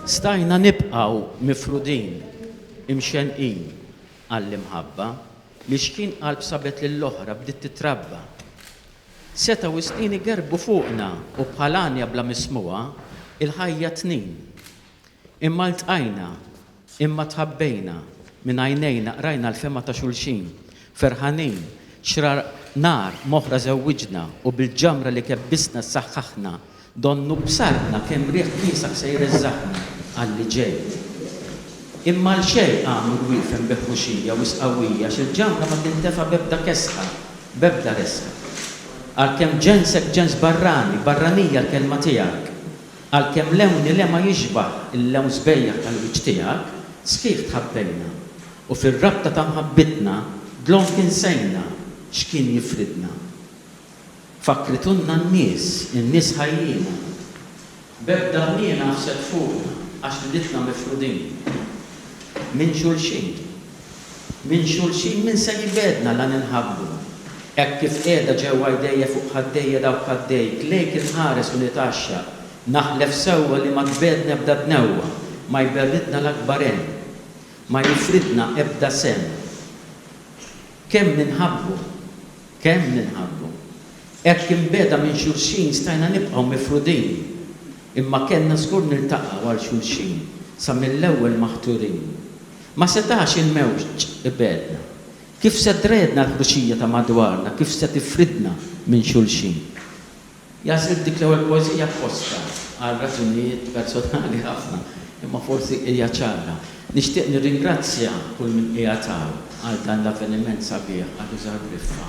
Stajna nibqaw mifrudin, imxenqin għall-imħabba li xkien qalb sabet lill-oħra bdiet titrabba. Setgħu s-snin igerbu fuqna u bħal għanja bla mismugħa, il-ħajja tnin. Imma ltqajna, imma tħabbejna, minn għajnejna qrajna l-fehma ta' xulxin. Ferħanin, xrar nar m'oħra żewwiġna u bil-ġamra li kebbisna ssaħħaħna, donnu b'sartna kemm riħ kiesaħ se jreżżaqna għall-li ġej. Imma għal xejn qamu l-wiefen bi ħruxija wisq qawwija għax il-ġamra ma tintefa' b'ebda kesħa, b'ebda resħa. Għalkemm ġensek ġens barrani, barranija l-kelma tiegħek. Għalkemm lewni l-ema jixbah il-lewn sbejjaħ tal-wiċċ tiegħek, sħiħ tħabbejna, u fir-rabta ta' mħabbitna dlonk insejna x'kien jifridna. Fakkritunna n-nies, in-nies ħajjina. B'ebda ħniena ħsed fuqna għax riditna mifrudin minn xulxin. Minn xulxin min ser jibegħdna la ninħabbu? Hekk kif qiegħda ġewwa jdejja fuq ħaddejja dawk ħaddejk lejk inħares u nitgħaxxaq, naħlef sewwa li ma tbegħdna ebda dnewwa, ma jberridna l-akbar għen, ma jifridna ebda sehem. Kemm ninħabbu! Kemm ninħabbu! Hekk imbegħda minn xulxin stajna nibqgħu mifrudin, imma kellna żgur niltaqgħu għal xulxin sa mill-ewwel maħturin. Ma setax il-mewġ ibegħedna. Kif se tredna l-ħruxija ta' madwarna, kif se tifridna minn xulxin? Għażilt dik l-ewwel poeżija f'fostha għal raġunijiet personali ħafna, imma forsi hija ċara. Nixtieq nirringrazzja kull min qiegħed hawn għal dan l-avveniment sabiħ għal Użar b'Rifqa.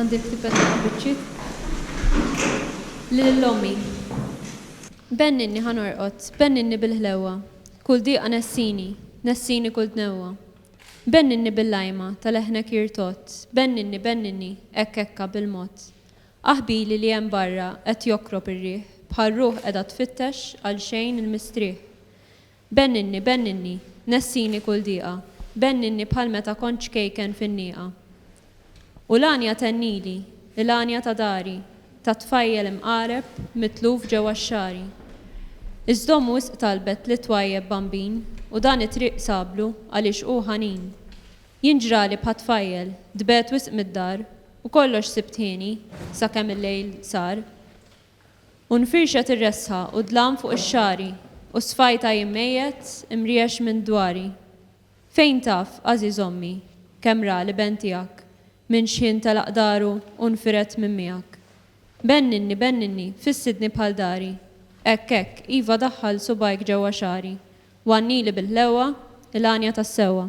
Għandek tipetta ma' biċċiet? Lil ommi. Benninni ħa norqod, benninni bil-ħlewwa, kull diqa nessini, nessini kull dnewwa. Benninni bil-lajma ta' leħnek jirtodd, benninni, benninni, hekk hekka, bil-mod. Aħbili li hemm barra qed jokrob ir-riħ, bħal ruħ qiegħda tfittex għal xejn il-mistrieħ. Benninni, benninni, nessini kull dieqa, benninni bħal meta kont ċkejken fin-nieqa. U l-għanja tennili, il-għanja ta' dari, tat-tfajjel imqareb, mitluf ġewwa x-xagħri. Is-sdom wisq talbet li twajjeb bambin u dan it-triq sablu għaliex hu ħanin. Jien ġrali bħat-tfajjel, tbegħet wisq mid-dar u kollox sibt hieni sakemm il-lejl sar. U nfirxet ir-resħa u d-dlam fuq ix-xagħri, u s-sfajt għajm mejjet, imriex minn dwari. Fejn taf, għażiż ommi, kemm ra l-iben tiegħek, minn xħin telaq daru u nfired minn miegħek. Benninni, benninni, fissidni bħal dari. Hekk, hekk, iva daħħal subgħajk ġewwa xagħri, u għannili bil-ħlewwa, il-għanja tas-sewwa.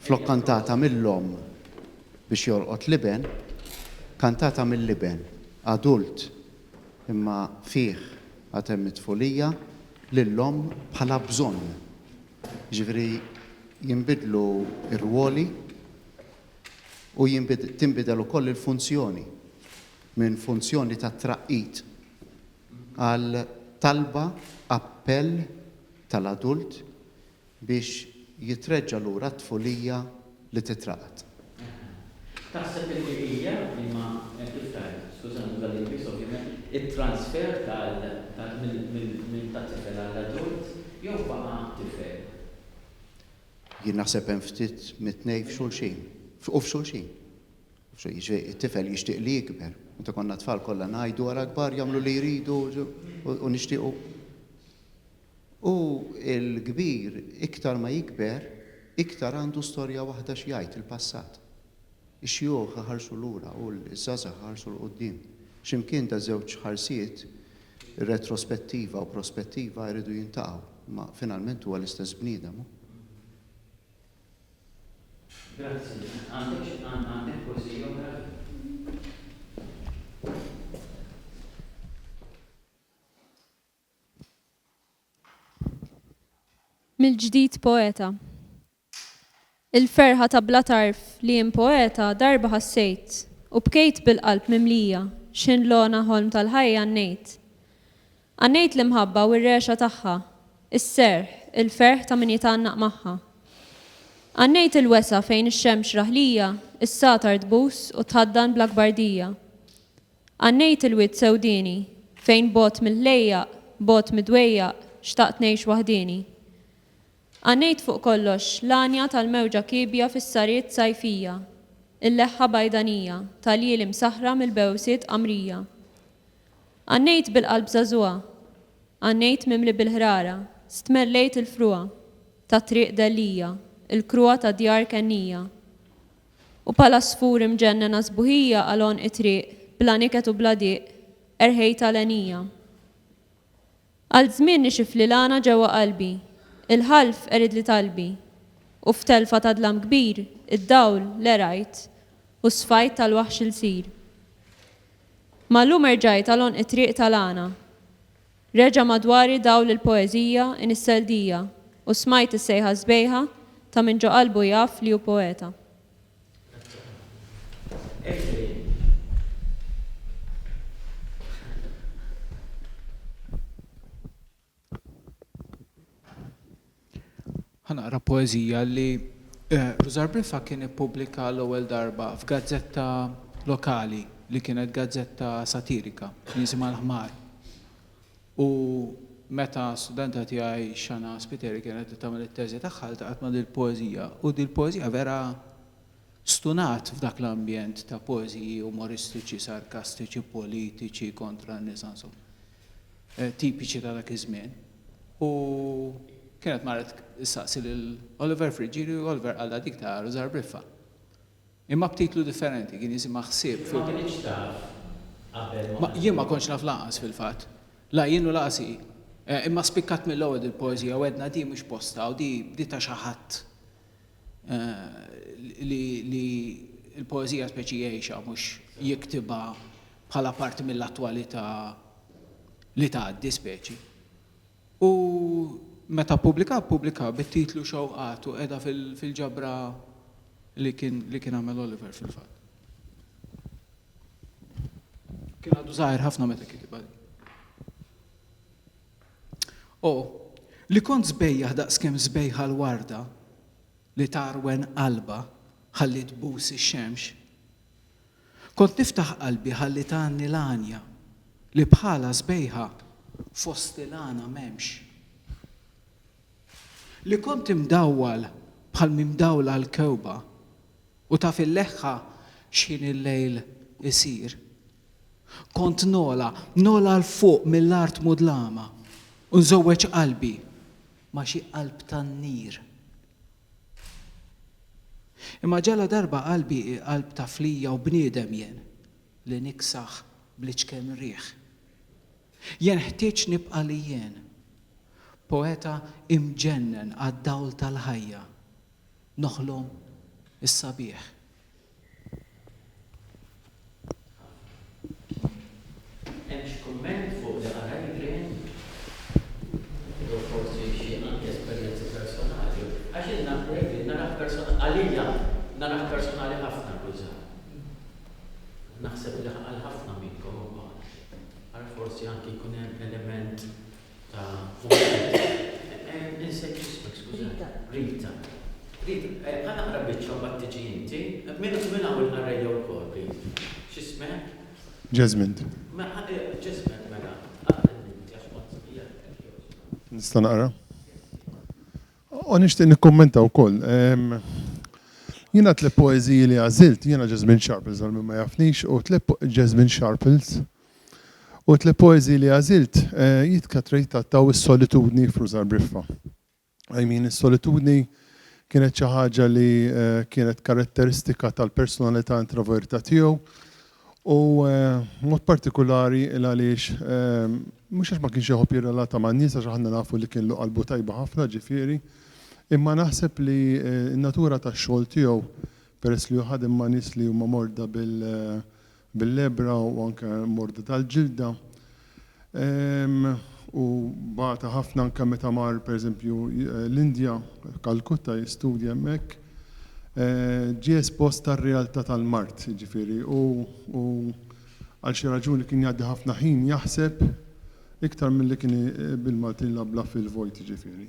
Flok kantata mill-omm biex jolqot l-iben, kantata mill-iben, adult, imma fih għad hemm it-tfulija, lill-omm bħala bżonn. Jiġifieri jinbidlu r-rwoli u tinbidel ukoll il-funzjoni minn funzjoni ta' traqqid għal talba, appell tal-adult biex jitreġġa' lura t-tfulija li titraqad. Taħseb illi hija liema hemm kif tgħid, skużani tal-Ingliż ovvjament, it-transfer tal minn tat-tifel għall-adult jew baqa' tifel? Jien naħseb hemm ftit mit-tnejn f'xulxin. U f'xulxin. Jiġifieri it-tifel jixtieq li jikber. Meta konna tfal kollha ngħidu ara kbar jagħmlu li jridu u nixtiequ. U l-kbir iktar ma jikber, iktar għandu storja waħda x'jgħid, il-passat. Ix-xjuħ iħarsu lura u ż-żgħażagħ iħarsu 'l quddiem. X'imkien daż-żewġ ħarsiet, retrospettiva u prospettiva, jridu jiltaqgħu. Imma finalment huwa l-istess bniedem hu. Grazzi. Għandek xi għandek poeżija oħra? Mill-ġdid poeta. Il-ferħa ta' bla tarf li jien poeta darba ħassejt u bkejt bil-qalb mimlija x'ħin l-ogħna ħolm tal-ħajja għannejt. Għannejt l-imħabba u r-regħxa tagħha, is-serħ, il-ferħ ta' min jitgħannaq magħha. Għannejt il-wesgħa fejn ix-xemx raħlija s-satar tbus u tħaddan bl-akbar dija. Għannejt il-wied sewdieni, fejn bogħod mill-ħlejjaq, bogħod mid-dwejjaq, xtaqt ngħix waħdieni. Għannejt fuq kollox l-għanja tal-mewġa kiebja fis-sariet sajfija, il-leħħa bajdanija tal-jili msaħħra mill-bewsiet qamrija. Għannejt bil-qalb żagħżugħa, għannejt mimli bil-ħrara, stmerlejt il-frugħa tat-triq dellija, il-kruha tad-djar kennija. U bħal għasfur imġennen għas-sbuħija għal għonq it-triq, bla niket u bla diq, erħejt għal għenija. Għal żmien nixifli l-għana ġewwa qalbi, il-ħalf qeridli talbi, u f'telfa ta' dlam kbir, id-dawl l-għerajt, u s-sfajt tal-waħx il-sir. Ma llum erġajt għal għonq it-triq tal-għana. Reġa' madwari dawl il-poeżija inissel dija u smajt is-sejħa sbejħa ta' min ġo qalbu jaf li hu poeta. Ħa naqra poeżija li Rużar Briffa kien ippubblika l-ewwel darba f'gazzetta lokali li kienet gazzetta satirika li jisimha l-Ħmar. U meta studenta tiegħi Xana Spiteri kienet qed tagħmel it-teżi tagħha ltaqgħet ma' dil-poeżija u dil-poeżija vera stunat f'dak l-ambjent ta' poeżiji umoristiċi, sarkastiċi, politiċi kontra n-nisa insomma tipiċi ta' dak iż-żmien. U kienet marret issaqsi lil Oliver Friggieri u Oliver qalha dik ta' Rużar Briffa. Imma b'titlu differenti, kien jisimha Ħsieb fil-Baħar. Int ma kinitx taf qabel ma qal. Jien ma kontx naf lanqas fil-fatt. La jien u lanqas hi. Imma spikkat mill-ewwel dil-poeżija u għedna di mhux postha u di bdietha xi ħadd. li l-poeżija speċi għejxa mhux jiktibha bħala parti mill-attwalità li tgħaddi speċi. U meta ppubblika ppubblika bit-titlu Xewqat u qiegħda fil-ġabra li kien li kien għamel Oliver fil-fatt. Kien għadu żgħir ħafna meta kitibha din. O, li kont sbejjaħ daqskemm sbejħa l-warda li tgħarwen qalbha ħalli tbus ix-xemx! Kont niftaħ qalbi ħalli tgħanni l-għanja li bħalha sbejħa fost il-għana m'hemmx! Li kont imdawwal bħal mimdawla l-kewba u taf il-leħħa x'ħin il-lejl isir! Kont nogħla, nogħla 'l fuq mill-art mudlama, u nżewweġ qalbi ma' xi qalb tan-nar. Imma ġaladarba qalbi hi qalb ta' flija u bniedem jien li niksaħ bl-iċken riħ. Jien ħtieġt nibqa' li jien, poeta imġennen għad-dawl tal-ħajja, noħlom is-sabiħ. Hemm xi kumment fuq li qara Adrian? Jew forsi xi anki esperjenzi personali? Għax jien naf li Adrian narah personali, għalija narah personali ħafna kull żmien. Naħseb li għal ħafna minnkom huwa. Ara forsi anki jkun hemm element Jasmine. Nista' naqra? U nixtieq nikkummenta wkoll. Jiena tliet poeżiji li għażilt, jiena Jasmine Sharples għal min ma jafnix, u tliet Jasmine Sharples U t-tliet poeżiji li għażilt jittrattaw is-solitudni f'Ruża Briffa. I mean, is-solitudni kienet xi ħaġa li kienet karatteristika tal-personalità introverta tiegħu u mod partikulari il għaliex mhux għax ma kienx iħobb jirrelata man-nies għax aħna nafu li kienlu qalbu tajba ħafna ġifieri, imma naħseb li n-natura tax-xogħol tiegħu peress li hu ħadem ma' nies li huma morda bil bil-lebra u anke morda tal-ġilda, u bata ħafna anke meta mar pereżempju l-Indja, Calcutta jistudja hemmhekk, ġie espost għar-realtà tal-mard, jiġifieri hu għal xi raġuni kien jgħaddi ħafna ħin jaħseb iktar milli kien bil-Maltin jlablab fil-vojt jiġifieri.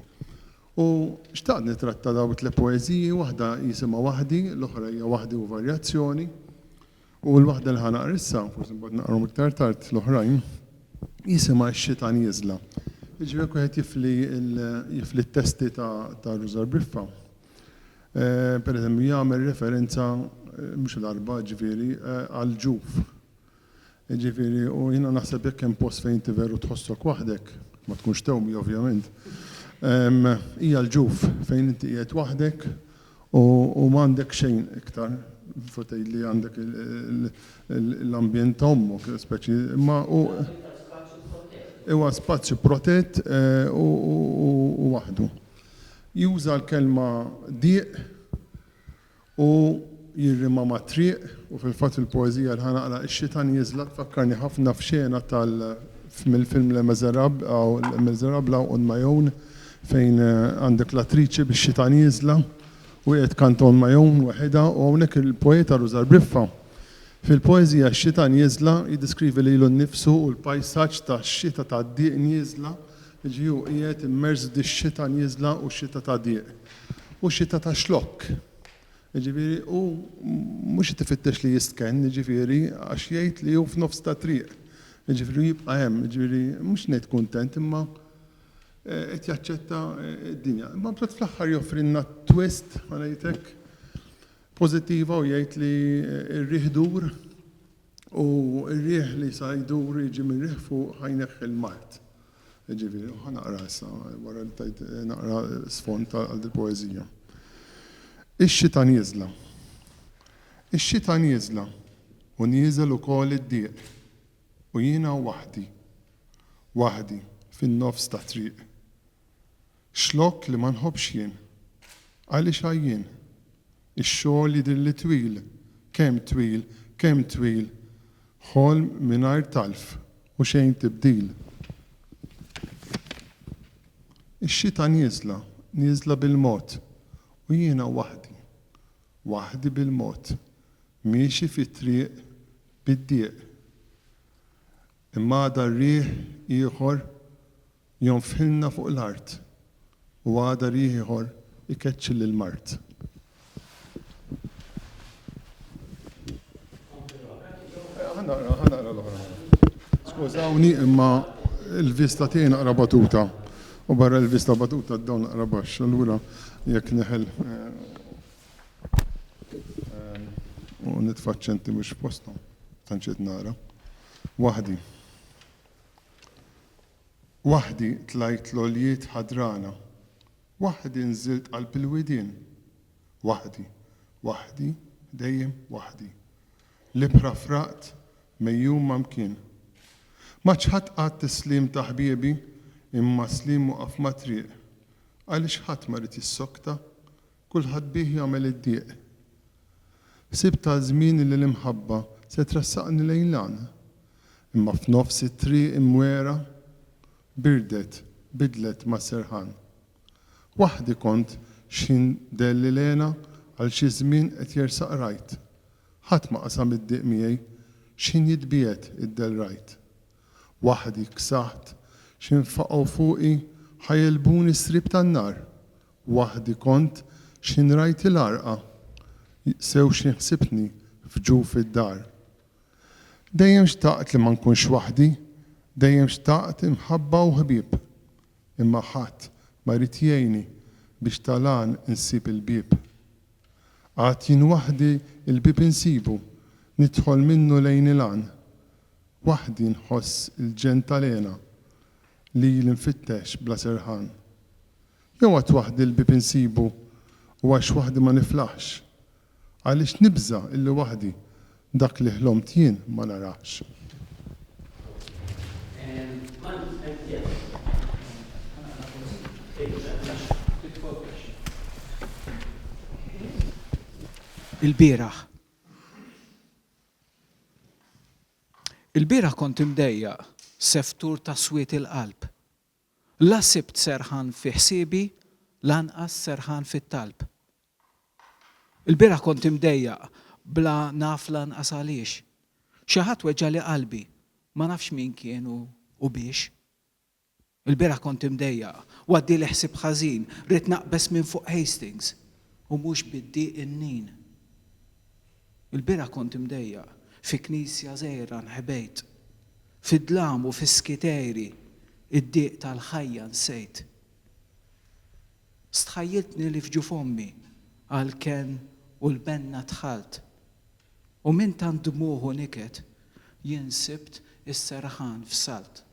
U xtaqt nittratta dawn it-tliet poeżiji, waħda jisimha Waħdi, l-oħra hija Waħdi u Varjazzjoni. U l-waħda li ħa naqra issa, forsi mbagħad naqrahom iktar tard l-oħrajn, jisimha X-Xitan Jiżla. Jiġri jekk wieħed jifli jifli t-testi ta' ta' Rużar Briffa, pereżempju jagħmel referenza mhux l-arba' ġifieri għall-ġuf. Ġifieri u jiena naħseb jekk hemm post fejn inti veru tħossok waħdek, ma tkunx tewmi ovvjament, hija l-ġuf fejn inti qiegħed waħdek U m'għandek xejn iktar, fu tgħid li għandek l-ambjent ta' ommok, speċi, imma hu. Huwa l-iktar spazju protett. Huwa spazju protett u waħdu. Juża l-kelma diq u jirrimha ma' triq u fil-fatt fil-poeżija li ħa naqra, Ix-xita nieżla tfakkarni ħafna f'xena tal-, mill-film Les Misérables, hawn Les Misérables hawn on my own, fejn għandek l-attriċi bix-xita nieżla u qiegħed kanton ma' Eun waħidha u hawnhekk il-poeta Rużar Briffa fil-poeżija X-xita nieżla jiddeskrivi lilu nnifsu u l-pajsaġġ ta' xita ta' dieq nieżla, jiġifieri hu qiegħed immers f'dix-xita nieżla u xita ta' dieq u xita ta' xlokk. Jiġifieri hu mhux qed ifittex li jistkenn, jiġifieri għax jgħid li hu f'nofs ta' triq, jiġifieri hu jibqa' hemm, jiġifieri mhux ngħid kuntent imma qed jaċċetta d-dinja. Imma mbagħad fl-aħħar joffrilna twist, ma ngħidlek, pożittiva u jgħid li r-riħ dur u r-riħ li sa jdur jiġi mir-riħ fuq ħa jneħħi l-mard. Jiġifieri, ħa naqra issa wara li tajt naqra sfond għal dil-poeżija. Ix-xita nieżla. Ix-xita nieżla u nieżel ukoll id-dieq. U jiena waħdi, waħdi fin-nofs tat-triq. Xlokk li ma nħobbx jien. Għaliex għajjien. Ix-xogħol jidhirli twil, kemm twil, kemm twil. Ħolm mingħajr talf u xejn tibdil. Ix-xita nieżla, nieżla bil-mod. U jiena waħdi, waħdi bil-mod. Miexi fi triq bid-dieq. Imma għada riħ ieħor jonfħilna fuq l-art u għada riħ ieħor ikeċċi lill-mard. Ħa naqra, ħa naqra l-oħra. Skużawni imma l-vista tiegħi naqra batuta u barra l-vista batuta dawn naqra baxx, allura jekk neħel. U nitfaċċenti mhux postom, tanċet nara. Waħdi. Waħdi tlajt l-oljiet ħadrana. Waħdi nżilt qalb il-widien. Waħdi, waħdi, dejjem waħdi. L-ibħra fraqt mejjum ma' mkien. Ma ċħadt qatt is-sliem ta' ħbiebi imma s-sliem waqaf mat-triq. Għaliex ħadd ma ried jissokta? Kulħadd bih jagħmel id-dieq. Ħsibt għal żmien li l-imħabba se tressaqni lejn l-għan. Imma f'nofs it-triq imwegħra, birdet, bidlet mas-serħan. Waħdi kont x'ħin dehli l-hena għal xi żmien qed jersaq rajt. Ħadd ma qasam id-dieq miegħi, x'ħin jitbiegħed id-dehl rajt. Waħdi ksaħt x'infaqgħu fuqi ħa jegħlbuni s-sriep tan-nar, waħdi kont x'inrajt il-għarqa sew x'inħsibtni f'ġuf id-dar. Dejjem xtaqt li ma nkunx waħdi, dejjem xtaqt imħabba u ħbieb, imma ħadd ma ried jgħinni biex tal-għan insib il-bieb. Għad jien waħdi l-bieb insibu, nidħol minnu lejn il-għan, Waħdi nħoss il-ġenn tal-hena lili nfittex bla serħan. Jew għad waħdi l-bieb insibu u għax waħdi ma niflaħx? Għaliex nibża' illi waħdi dak li ħlomt jien ma narahx? Il-bieraħ. Il-bieraħ kont imdejjaq, seftur ta' swied il-qalb. La sibt serħan fi ħsiebi, lanqas serħan fit-talb. Il-bieraħ kont imdejjaq, bla naf lanqas għaliex. Xi ħadd weġġagħli qalbi, ma nafx min kien u biex. Il-bieraħ kont imdejjaq u għaddieli ħsieb ħażin, ridt naqbeż minn fuq Hastings u mhux bid-dieq in-nin. Il-bieraħ kont imdejjaq fi knisja żgħira nħebejt. Fid-dlam u fis-skitejri d-dieq tal-ħajja nsejt. Stħajjiltni li f'ġuf ommi għall-kenn u l-benna dħalt. U minn tant dmugħ u niket, jien sibt is-serħan f'salt.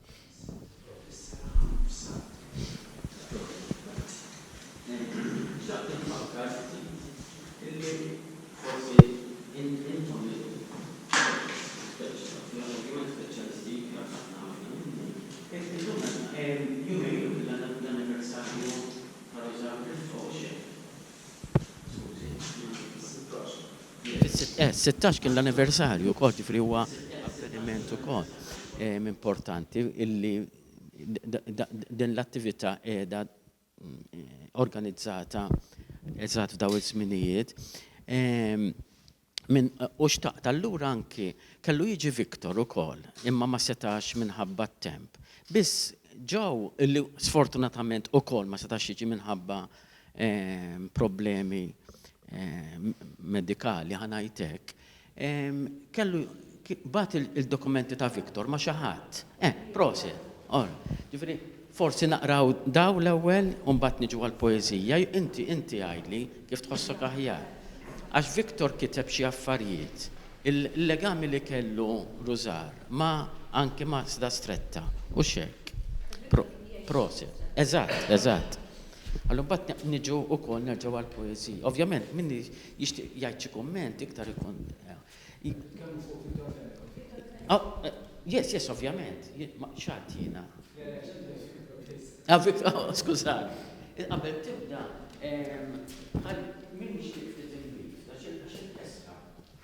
Is-sittax kien l-anniversarju wkoll, ġifieri huwa avveniment ukoll importanti illi din l-attività qiegħda organizzata eżatt f'dawn iż-żminijiet. U xtaqt allura anki, kellu jiġi Victor ukoll, imma ma setax minħabba t-temp. Biss Joe, illi sfortunatament ukoll ma setax jiġi minħabba problemi medikali, ħa ngħid hekk, kellu bat il-dokumenti ta' Victor ma' xi ħadd. Eh, prosi. Or, ġifieri, forsi naqraw daw l-ewwel u mbagħad niġu għall-poeżija, inti inti għidli kif tħossok aħjar. Għax Victor kiteb xi affarijiet, il-legami li kellu Rużar ma' anki ma' Sda Stretta, hux hekk? Prosi. Eżatt, eżatt. Allura mbagħad niġu wkoll nerġgħu għall-poeżija. Ovvjament min jixtieq jgħid xi kumment iktar ikun. Nitkellmu fuq Vito Fenech. Yes, yes, ovvjament. X'għad jiena? Skużani. Qabel tibda, min jixtieq ftit inbid, għax il-kessra.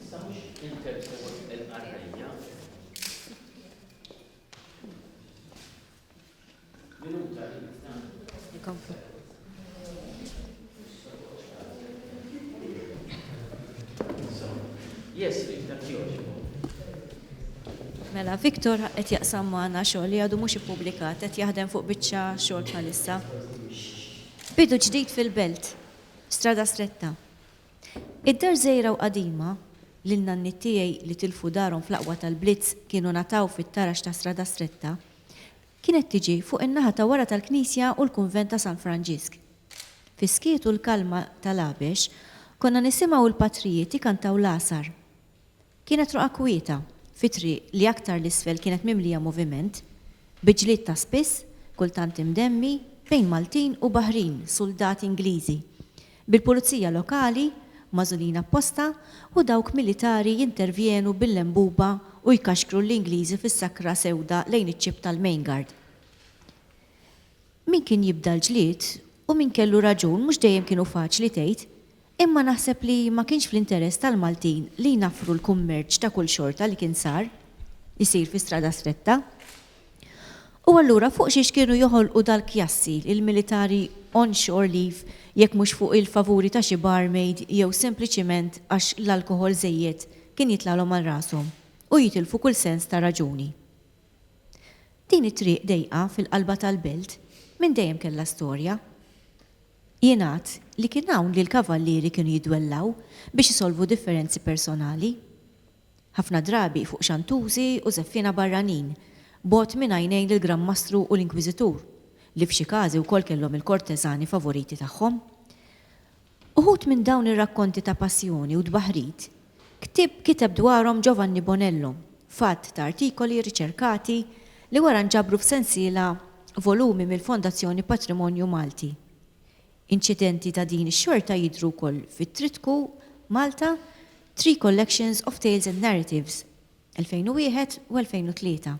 Issa mhux interview il-qarrejja. Minuta li Yes, Mela, Victor qed jaqsam magħna xogħol li għadu mhux ippubblikat qed jaħdem fuq biċċa xogħol bħalissa. Bidu ġdid fil-belt, strada stretta. Id-dar żgħira u qadima, li n-nanniet tiegħi li tilfu darhom fl-aqwa tal-blitz kienu ngħataw fit-tarax ta' Strada Stretta, kienet tiġi fuq in-naħa ta' wara tal-knisja u l-kunvent ta' San Franġisk. Fis-skiet u l-kalma tal-għabex, konna nisimgħu l-patrijiet ikantaw l-għasar. Kienet roqgħa kwieta, fi triq li aktar 'l isfel kienet mimlija moviment, bi ġlied ta' spiss, kultant imdemmi, bejn Maltin u Baħrin, suldati Ingliżi, bil-pulizija lokali, magħżulin apposta, u dawk militari jintervjenu bil-lenbuba u jkaxkru l-Ingliżi fis-sakra sewda lejn iċ-ċip tal-Mainguard. Min kien jibda l-ġlied u min kellu raġun mhux dejjem kienu faċli tgħid, Imma naħseb li ma kienx fl-interess tal-Maltin li jnaffru l-kummerċ ta' kull xorta li kien sar isir fi strada stretta. U allura fuq xiex kienu joħolqu dal-kjassi il-militari on shore leave jekk mhux fuq il-favuri ta' xi barmaid jew sempliċiment għax l-alkoħol żejjed kien jitlagħlhom għal rashom u jitilfu kull sens ta' raġuni. Din it-triq dejqa fil-qalba tal-belt minn dejjem kellha storja. Jingħad li kien hawn li l-kavallieri kienu jiddwellaw biex isolvu differenzi personali. Ħafna drabi fuq xantużi u żeffiena barranin, bogħod minn għajnejn il-Gran Mastru u l-Inkwiżitur, li f'xi każi wkoll kellhom il-korteżani favoriti tagħhom. Uħud minn dawn ir-rakkonti ta' passjoni u tbaħħrit Ktieb kiteb dwarhom Giovanni Bonello f'għadd ta' artikoli riċerkati li wara nġabru f'sensiela volumi mill-Fondazzjoni Patrimonju Malti. Inċidenti ta' din ix-xorta jidhru wkoll fit-tritku Malta, Three Collections of Tales and Narratives, 2001 u 2003,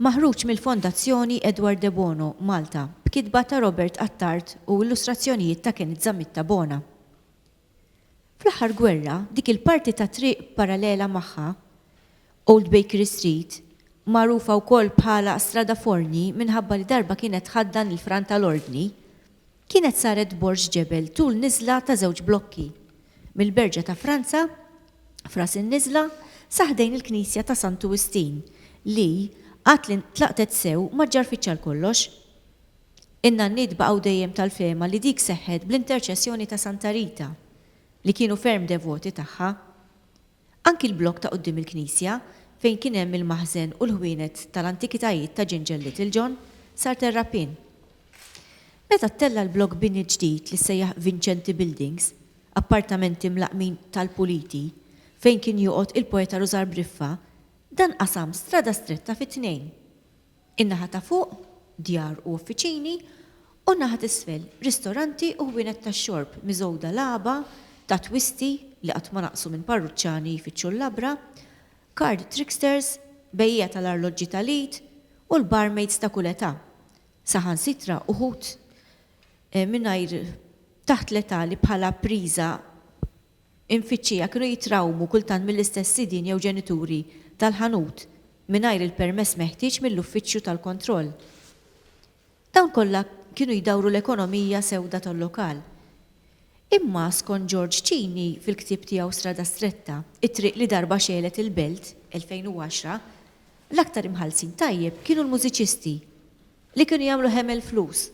maħruġ mill-Fondazzjoni Edward Debono, Malta, b'kitba ta' Robert Attard u illustrazzjonijiet ta' Kenneth Zammitta Bona. Fl-aħħar gwerra, dik il-parti ta' triq parallela magħha, Old Bakery Street, magħrufa wkoll bħala Strada Forni minħabba li darba kienet tħaddan il-fran tal-Ordni, kienet saret borż ġebel tul niżla ta' żewġ blokki, mill-Berġa ta' Franza, f'ras in-niżla, sa ħdejn il-knisja ta' Santu Wistin, li, għad li ntlaqtet sew, ma ġġarfitx għalkollox. In-nanniet baqgħu dejjem tal-fehma li dik seħħet bl-interċessjoni ta' Santa Rita, li kienu ferm devoti tagħha. Anki l-blokk ta' quddiem il-knisja, fejn kien hemm il-maħżen u l-ħwienet tal-antikitajiet ta' Ġinġel Littlejohn, sar terrapien. Meta ttella' l-blokk bini ġdid li ssejjaħ Vincenti Buildings, appartamenti mlaqqmin tal-puliti, fejn kien joqgħod il-poeta Rużar Briffa, dan qasam strada stretta fi tnejn. In-naħa ta' fuq, djar u uffiċini, u n-naħa t'isfel, ristoranti u ħwienet tax-xorb miżgħuda l-għaba ta' twisti li qatt ma naqsu minn parruċċani jfittxu l-labra, card tricksters, bejjiegħa tal-arloġġi tal-id u l-barmaids ta' kull età, saħansitra uħud mingħajr taħt l-età li bħala priża Imfittxija kienu jitrawmu kultant mill-istess sidien jew ġenituri tal-ħanut mingħajr il-permess meħtieġ mill-uffiċċju tal-kontroll. Dawn kollha kienu jdawru l-ekonomija sewda tal-lokal. Imma skont George Cini fil-ktieb tiegħu Strada Stretta, it-triq li darba xegħlet il-belt, 2010, l-aktar imħallsin tajjeb kienu l-mużiċisti, li kienu jagħmlu hemel flus.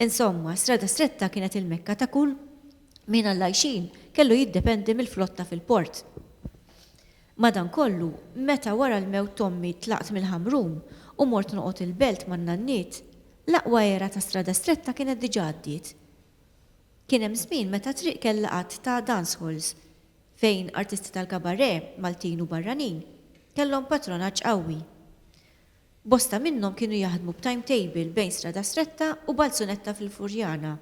Insomma, Strada Stretta kienet il-Mekka ta' kull min għall-għajxien kellu jiddependi mill-flotta fil-port. Madankollu, meta wara l-mewt t'ommi tlaqt mill-Ħamrun u mort noqgħod il-Belt man-nanniet, l-aqwa era ta' Strada Stretta kienet diġà għaddiet. Kien hemm żmien meta t-triq kellha għadd ta' dancehalls fejn artisti tal-kabarè, Maltin u barranin, kellhom patronaġġ qawwi. Bosta minnhom kienu jaħdmu b'timetable bejn Stradastretta u Balzunetta fil-Furjana.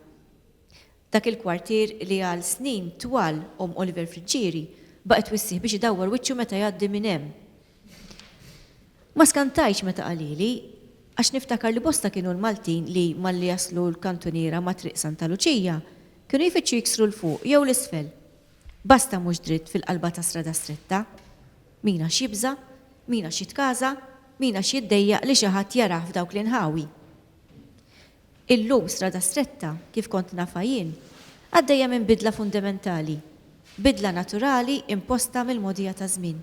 Dak il-kwartier li għal snin twal omm Oliver Friggieri baqgħet twissih biex idawwar wiċċu meta jgħaddi minn hemm. Ma skantajtx meta qalili, għax niftakar li bosta kienu l-Maltin li malli jaslu l-kantuniera ma' Triq Santa Luċija, kienu jfittxu jiksru 'l fuq jew 'l isfel. Basta mhux dritt fil-qalba ta' Stradastretta. Min għax jibża'? Min għax jitkaża? Min għax jiddejjaq li xi ħadd jarah f'dawk l-inħawi? Illum Strada Stretta, kif kont nafha jien, għaddejja minn bidla fundementali, bidla naturali imposta mill-mogħdija taż-żmien.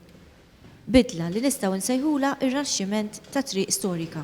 Bidla li nistgħu nsejħulha r-raxximent ta' triq storika.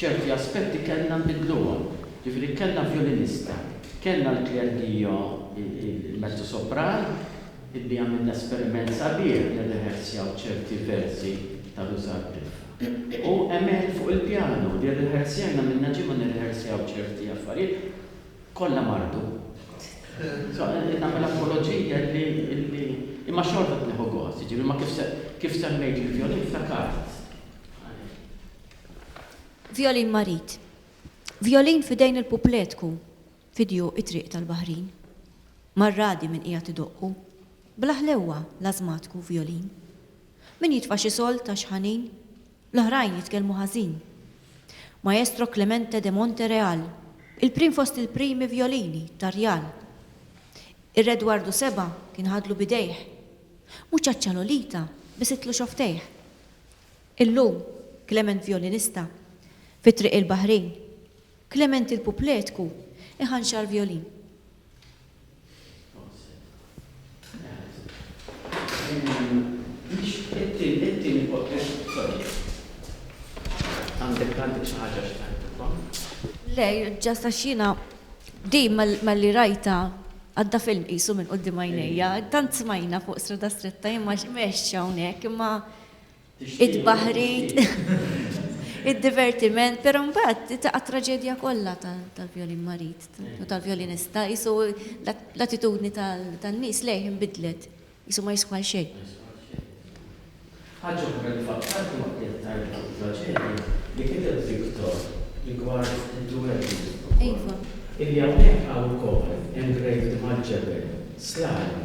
ċerti aspetti kellna nbiddluhom. Jiġifieri kellna vjolinista, kellna l-klerdio, il-mezzosopran, illi għamilna esperiment sabiħ li rriħersjaw ċerti versi ta' Ruża r-Rilfa. U Emel fuq il-pjanu, li rriħersjajna minna ġimgħa nirriħersjaw ċerti affarijiet, kollha mardu. So, nagħmel apoloġija li, li, imma xorta qed nieħu gost, jiġifieri ma kif se, kif semmejt il-vjolin ftakart. Vjolin marid. Vjolin f'idejn il-pupletku fidju it-triq tal-baħrin. Mar-radi min qiegħed idoqqu. Bla ħlewwa l-ażmatku vjolin. Min jitfa' xi solt għax ħanin. L-oħrajn jitkellmu ħażin. Maestro Clemente de Montereal, il-prim fost il-primi vjolini tar-Rjal. Ir-Re Edwardu Seba' kien ħadlu b'idejh. Mhux għaċ-ċalolita, biss it-tluxoftejh. Illum, Klement vjolinista fi Triq il-Baħrin, Klement il-Pupletku iħanxar vjolin. Le, ġast għax jiena din malli rajta għadda film qisu minn qudiem għajnejja, tant smajna fuq strada stretta imma x'mexx hawnhekk imma it-tbaħħrit, id-divertiment, però mbagħad taqa' traġedja kollha tal-vjolin marid u tal-vjolinista, qisu l-attitudni tan-nies lejh inbidlet, qisu ma jiswa għal xejn. Ħaġa oħra li fakkartni waqt li qed ngħid fuq it-traġedja li kiteb Victor rigward id-duelli. Iva. Illi hawnhekk hawn ukoll engraved mal-ġebel, slalom,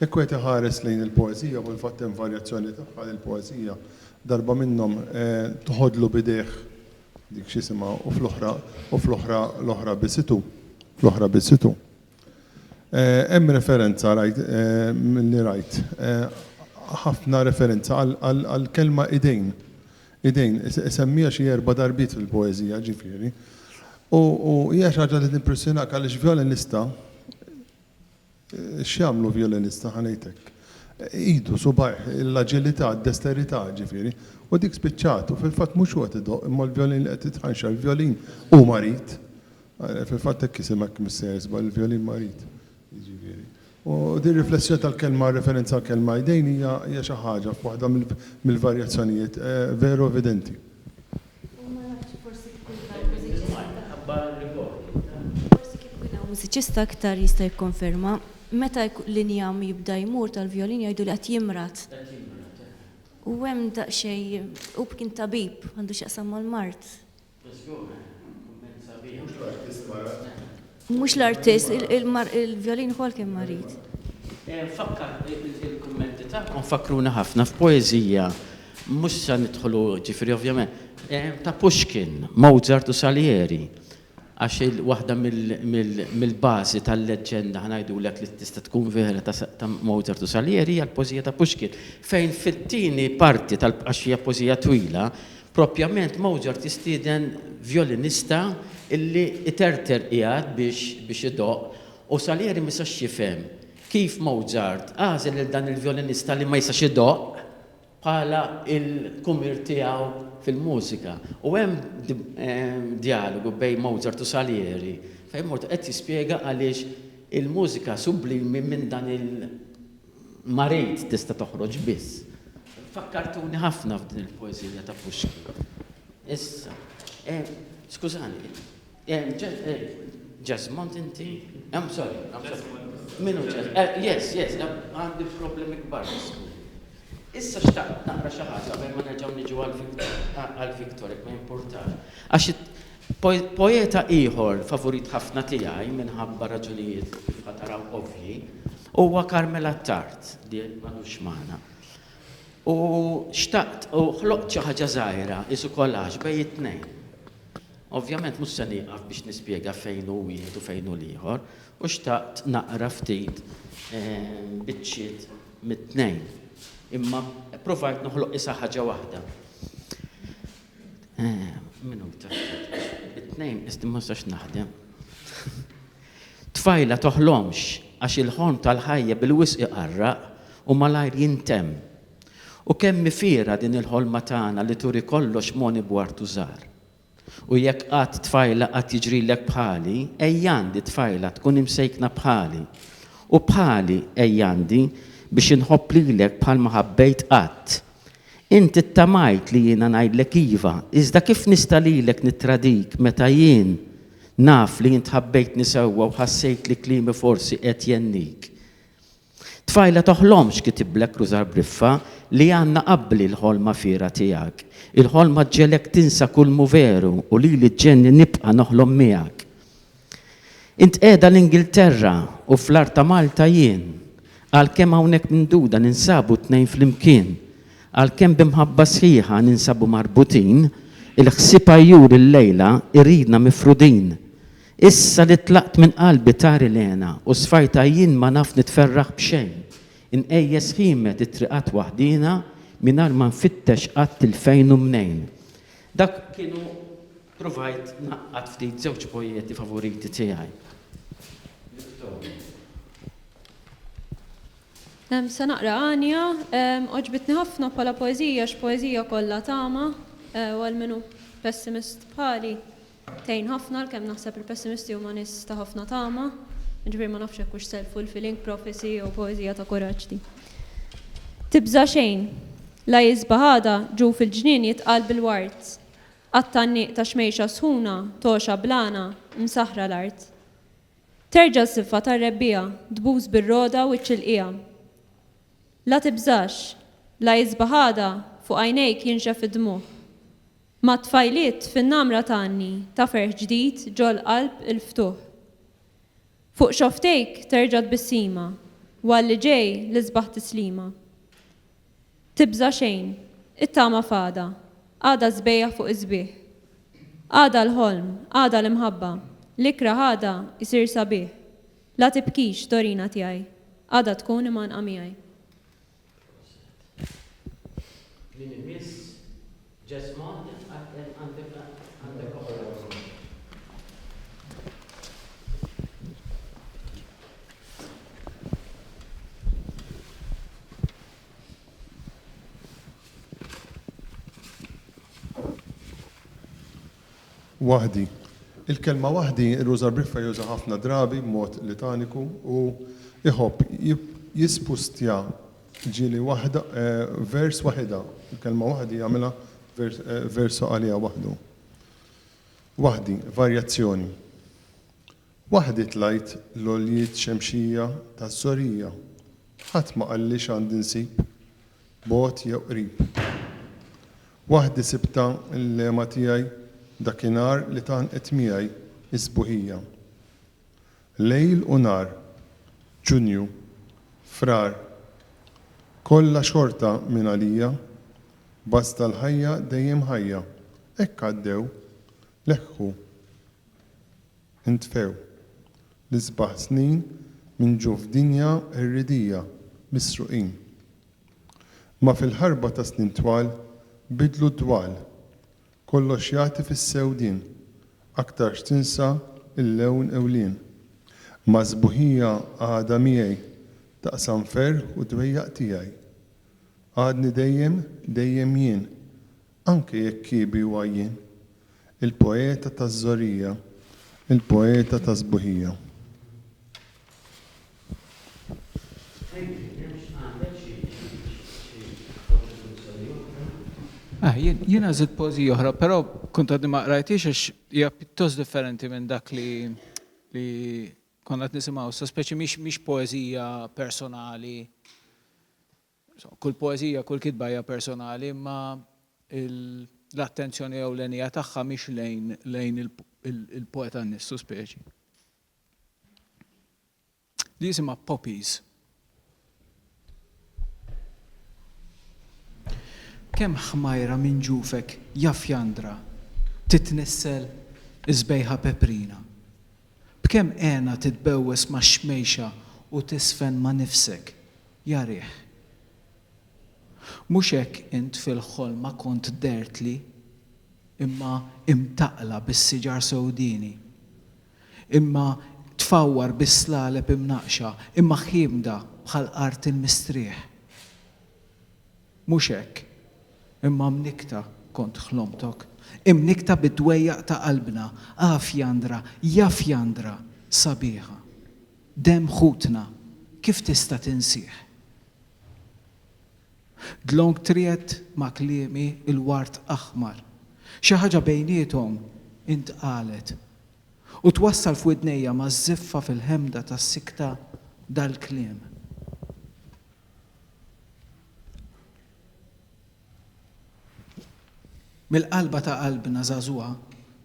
Jekk wieħed iħares lejn il-poeżija, u fil-fatt hemm varjazzjoni tagħha li l-poeżija, darba minnhom, tħoddlu b'idejh dik x'isimha u fl-oħra, u fl-oħra, l-oħra b'isitu, fl-oħra b'isitu. Hemm referenza, rajt, milli rajt, ħafna referenza għall-kelma idejn, idejn, isemmiha xi erba' darbiet fil-poeżija, ġifieri. U hija xi ħaġa li timpressjonak għaliex vjolinista, X'jagħmlu vjolinista, ħa ngħidlek. Idu, subgħajh, l-aġilità, d-desterità, ġifieri. U dik spiċċat. U fil-fatt mhux hu qed idoqq, imma l-vjolin li qed jitħanxar. Il-vjolin hu marid. Fil-fatt hekk jisimek, Missier, żball, il-vjolin marid. Jiġifieri. U din riflessjoni tal-kelma, referenza għall-kelma idejn hija xi ħaġa f'waħda mill-varjazzjonijiet veru evidenti. U ma nafx, forsi kif kien hawn mużiċista. Bil-mod, minħabba r-rikordi, taf. Forsi kif kien hawn mużiċista iktar jista' jikkonferma. Meta l-injam jibda jmur tal-vjolin jgħidu li qed jimrad. Qed jimrad, eh. U hemm daqsxejn, hu kien tabib, għandu x'jaqsam mal-mard. Żgur, eh. Kumment sabiħ. Mhux l-artist marad. Mhux l-artist, il-vjolin ukoll kien marid. Fakkar il-kummenti tagħkom fakkruna ħafna f'poeżija mhux se nidħlu ġifieri ovvjament ta' Pushkin, Mozart u Salieri. Għax waħda mill-bażi tal-leġġenda ħngħidulek li tista' tkun vera ta' Mozart u Salieri hija l-poeżija ta' Pushkin fejn fit-tieni parti tal għax hija poeżija twila Proprjament Mozart jistieden vjolinista illi iterter qiegħed biex biex idoqq u Salieri ma jistax jifhem kif Mozart għażel lil dan il-vjolinista li ma jistax idoqq bħala il-kumir tiegħu fil-mużika u hemm djalogu bejn Mozart u Salieri fejn Mozart qed jispjega għaliex il-mużika sublimi minn dan il Marit tista' toħroġ biss. Fakkartuni ħafna f'din il-poeżija ta' Pushkin. Issa, skużani, Jesmond inti? I'm sorry, I'm sorry. Minu ġeż? Eh, yes, yes, eh, għandi problemi kbar. Issa xtaqt naqra xi ħaġa ma nerġgħu niġu għal Victor, ma jimpurtax. Għax Poeta ieħor favurit ħafna tiegħi minħabba raġunijiet li kif ħa taraw ovvji, huwa Carmel Attard li m'għadux magħna. U xtaqt, u ħloqt xi ħaġa żgħira, qisu collage bejn it-tnejn. Ovvjament mhux se nieqaf biex nispjega fejn hu wieħed u fejn hu l-ieħor, u xtaqt naqra ftit biċċiet mit-tnejn. Imma ppruvajt noħloq qisha ħaġa waħda. Eh, minuta. It-tnejn, isti ma sax naħdem. Tfajla toħlomx għax il-ħolm tal-ħajja bil-wisq iqarraq u malajr jintem. U kemm mifira din il-ħolma tagħna li turi kollox moni bwartu żar. U jekk qatt tfajla qatt jiġrilek bħali, ejjandi tfajla tkun imsejkna bħali. U bħali ejjandi biex inħobb lilek bħal ma ħabbejt qatt Int ittamajt li jiena ngħidlek iva, iżda kif nista' lilek nittradik meta jien naf li int ħabbejtni sewwa u ħassejt li kliemi forsi qed jgħennik? Tfajla toħlomx, kitiblek Rużar Briffa, li għandna qabbli l-ħolma fiergħa tiegħek. Il-ħolma ġġegħlek tinsa kull m'hu veru u lili ġġegħlni nibqa' noħlom miegħek. Int qiegħda l-Ingilterra u fl-art ta' Malta jien. Għalkemm hawnhekk minduda ninsabu t-tnejn flimkien. Għalkemm bi mħabba sħiħa ninsabu marbutin, il-ħsieb għajjur illejla jridna mifrudin. Issa li tlaqt minn qalbi tari l-hena u sfajtha jien ma naf nitferraħ b'xejn. Inqejjes ħiemet it-triqat waħdiena mingħajr ma nfittex qatt 'il fejn u mnejn. Dak kienu Provajt ngħaqqad ftit żewġ poieti favoriti tiegħi. Victoria. Se naqra Għanja. Għoġbitni ħafna bħala poeżija għax poeżija kollha tama u għal min hu pessimist bħali tgħin ħafna għalkemm naħseb il-pessimisti huma nies ta' ħafna tama. Jiġifieri ma nafx hekk hux self-fulfilling prophecy jew poeżija ta' kuraġġ din. Tibża' xejn. La jisbaħ għada ġuf il-ġnien jitqal bil-ward. Għat-tgħanniq ta' xmejxa sħuna, togħxa blana, msaħħra l-art. Terġa' s-siffa tar-rebbiegħa, tbus bir-rogħda u ċ-ċilqiegħa. La tibżax, la isbaħ għada fuq għajnejk jinxef id-dmugħ. Mat-tfajliet fin-namra tgħanni ta' ferħ ġdid ġol-qalb il-ftuħ. Fuq xofftejk terġa' tbissima, u għall-li ġej l-isbaħ tislima. Tibża' xejn, it-tama f'għada, għada s-sbejjaħ fuq is-sbieħ. Għada l-ħolm, għada l-imħabba, l-ikrah għada jsir sabiħ. La tibkix, Dorina tiegħi, għada tkun imgħanqa miegħi. Ġesma jitqattel għandek għandek oħra. Waħdi. Il-kelma waħdi Rużar Briffa juża ħafna drabi b'mod litaniku u jħobb jispustja Ġieli waħda, vers waħidha, il-kelma waħdi jagħmilha verso għaliha waħdu. Waħdi, varjazzjoni. Waħdi tlajt l-għoljiet xemxija taż-żorija, ħadd ma qalli x'għandi nsib, bogħod jew qrib. Waħdi sibtha l-lema tiegħi dakinhar li tgħannqet miegħi s-sbuħija. Lejl u nhar, Ġunju, Frar, Kollha xorta minn għalija, Basta l-ħajja dejjem ħajja, Hekk għaddew, leħħu, intfew, L-isbaħ snin minn ġu f'dinja irridija, Misruqin. Ma fil-ħarba ta' snin twal, Bidlu d-dwal, Kollox jagħti fis-sew din, aktar x'tinsa l-lewn ewlien. Ma' sbuħija għadha miegħi, taqsam ferħ u dwejjaq tiegħi. Għadni dejjem, dejjem jien, anke jekk kiebi u għajjien. Il-poeta taż-żorija, il-poeta taż-sbuħija. Ah, jien għazit pozi oħra, pero kont għadni ma qrajtix għax hija pjuttost differenti minn dak li li konna qed nisimgħu, sa speċi mhix poezija personali. Kull poezija, kull kitba hija personali, imma l-attenzjoni ewlenija tagħha mhix lejn lejn il-poeta nissu speċi. Di jisimha poppies. Kemm ħmajra minn ġufek jaf jandra titnissel is-sbejħa peprina. B'kemm hena titbewwes max-xmejxa u tiżfen ma' nifsek, ja riħ. Mhux hekk int fil-ħolma kont dhertli, imma imtaqqla bis-siġar sewdieni. Imma tfawwar bis-slaleb imnaqqxa, imma ħiemda bħal art il-mistrieħ. Mhux hekk, imma mnikkta kont ħlomtok, imnikkta bid-dwejjaq ta' qalbna, ah Fjandra, ja Fjandra sabiħa. Demm ħutna, kif tista' tinsih? Dlonk triegħed ma' kliemi l-ward aħmar. Xi ħaġa bejniethom intqalet. U twassal f'widnejja maż-żiffa fil-ħemda tas-sikta dal-kliem. Mill-qalba ta' qalbna żagħżugħa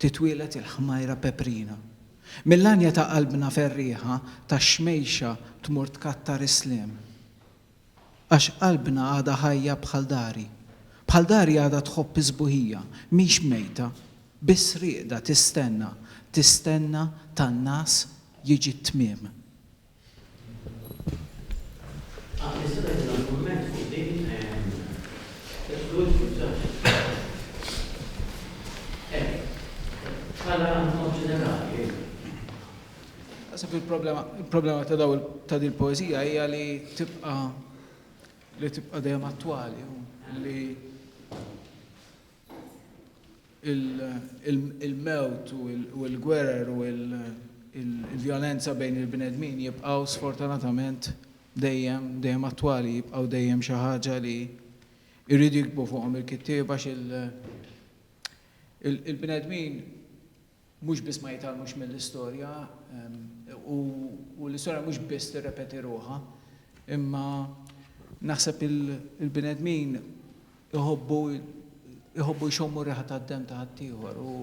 titwieled il-ħmajra peprina. Mill-għanja ta' qalbna ferrieħa tax-xmejxa tmur tkattar is-sliem. Għax qalbna għadha ħajja bħal dari. Bħal dari għadha tħobb is-sbuħija, mhix mejta, biss rieqda tistenna, tistenna tan-nagħas jiġi t-tmiem. Naħseb li l-problema il-problema ta' daw ta' din poeżija hija li tibqa' li tibqa' dejjem attwali li il-mewt u l-gwerer u l-vjolenza bejn il-bnedmin jibqgħu sfortunatament dejjem dejjem attwali, jibqgħu dejjem xi ħaġa li jridu jikbu fuqhom il-kittieba il-bnedmin mhux biss ma jitgħallmux mill-istorja u l-istorja mhux biss tirrepeti ruħha, imma naħseb il-bnedmin iħobbu iħobbu jxommu r-riħa tad-demm ta' ħaddieħor u.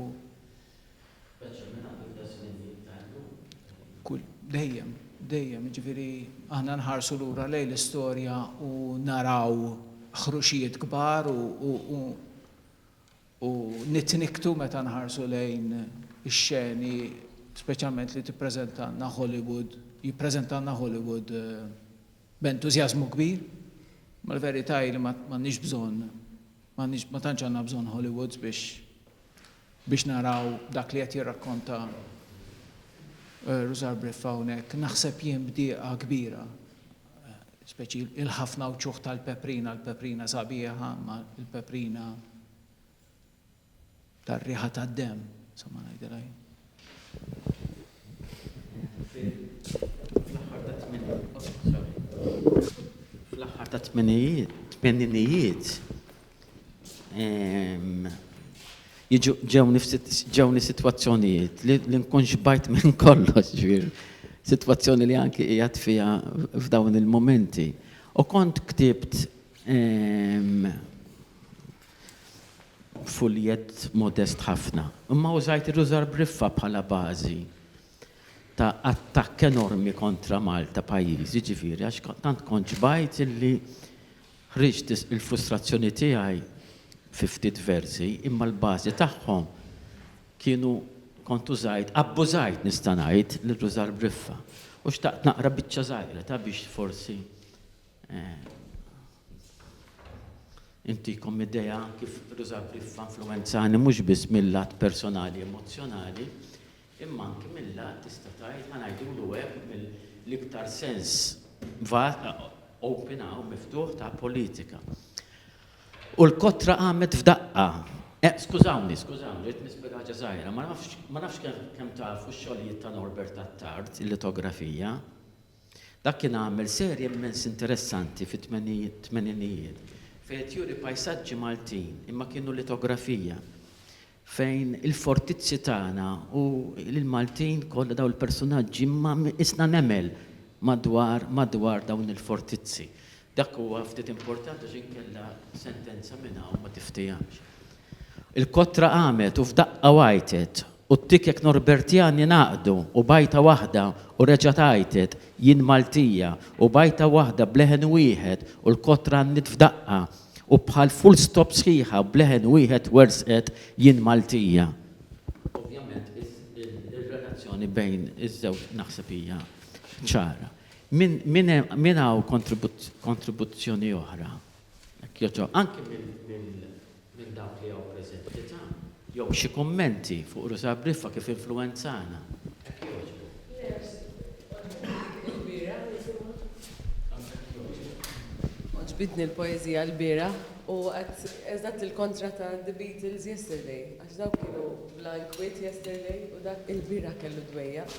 Speċjalment minn hawn ftit snin iktar illum. Dejjem, dejjem, jiġifieri aħna nħarsu lura lejn l-istorja u naraw ħruxijiet kbar u u nitnikktu meta nħarsu lejn ix-xeni speċjalment li tippreżentalna Hollywood, jippreżentalna Hollywood b'entużjażmu kbir. Imma l-verità hi li m'għandniex bżonn, m'għandniex ma tantx għandna bżonn Hollywoods biex biex naraw dak li qed jirrakkonta Rusar Briffa hawnhekk. Naħseb jien b'dieqa kbira speċi il-ħafna wċuħ tal-peprina, l-peprina sabiħa, ma l-peprina tar-riħa tad-dem, insomma ngħidilha jien. Fl-aħħar ta' tminijiet, tmeninijiet, Ġewni sitwazzjonijiet li nkun xbajt minn kollox, ġifieri sitwazzjoni li anki qiegħed fiha f'dawn il-mumenti. U kont ktibt fuljett modest ħafna, imma użajt irrużar b'riffa bħala bażi ta' attakk enormi kontra Malta pajjiżi, ġifieri għax tant kont xbajt illi Ħriġt il-frustrazzjoni tiegħi fi ftit versi, imma l-bażi tagħhom kienu kont użajt, abbużajt nista' ngħid, nirruża l-briffa, u xtaqt naqra biċċa żgħira ta' biex forsi intikom idea kif irruża l-briffa influwenzani mhux biss mil-lat personali emozzjonali, imma anki mil-lat tista' tgħid, ħa ngħidulu hekk, mill-iktar sens vag, open hawn, miftuħ, ta' politika. U l-kotra qamet f'daqqa. Eh, skużawni, skużawni, rrid nispjega ħaġa żgħira, ma nafx, ma nafx kemm tafu x-xogħlijiet ta' Norbert Attard, il-litografija. Dak kien għamel serje immens interessanti fit-tmeninijiet fejn qed juri pajsaġġi Maltin imma kienu litografija. fejn il-fortizzi tagħna u l-Maltin kollha dawn il-persunaġġi imma qisna nemel madwar madwar dawn il-fortizzi. Dak huwa ftit importanti għax inkella sentenza minn hawn ma tiftihamx. Il-kotra qamet u f'daqqa għajtet u t-tikek Norbertjani ngħaqdu u b'għajta waħda u reġgħet għajtet, Jien Maltija, u b'għajta waħda b'leħen wieħed u l-kotra għannit f'daqqa, U bħal full stop sħiħa b'leħen wieħed wersqet Jien Maltija. Ovvjament ir-relazzjoni bejn iż-żewġ naħseb hija ċara. Min hawn kontribuzzjoni oħra? Jekk jogħġob. Anki minn dawk li hawn preżenti. Jew xi kummenti fuq Rosa Briffa kif influwenzana? Hekk jogħġbok. Merci. Għoġbitni l-bieraħ nisimgħu. Anke hekk jogħġbok. Għoġbitni l-poeżija l-bieraħ u għad eżatt il-kontra ta' The Beatles yesterday għax dawk kienu bla inkwiet yesterday u dak il-bieraħ kellu dwejjaq.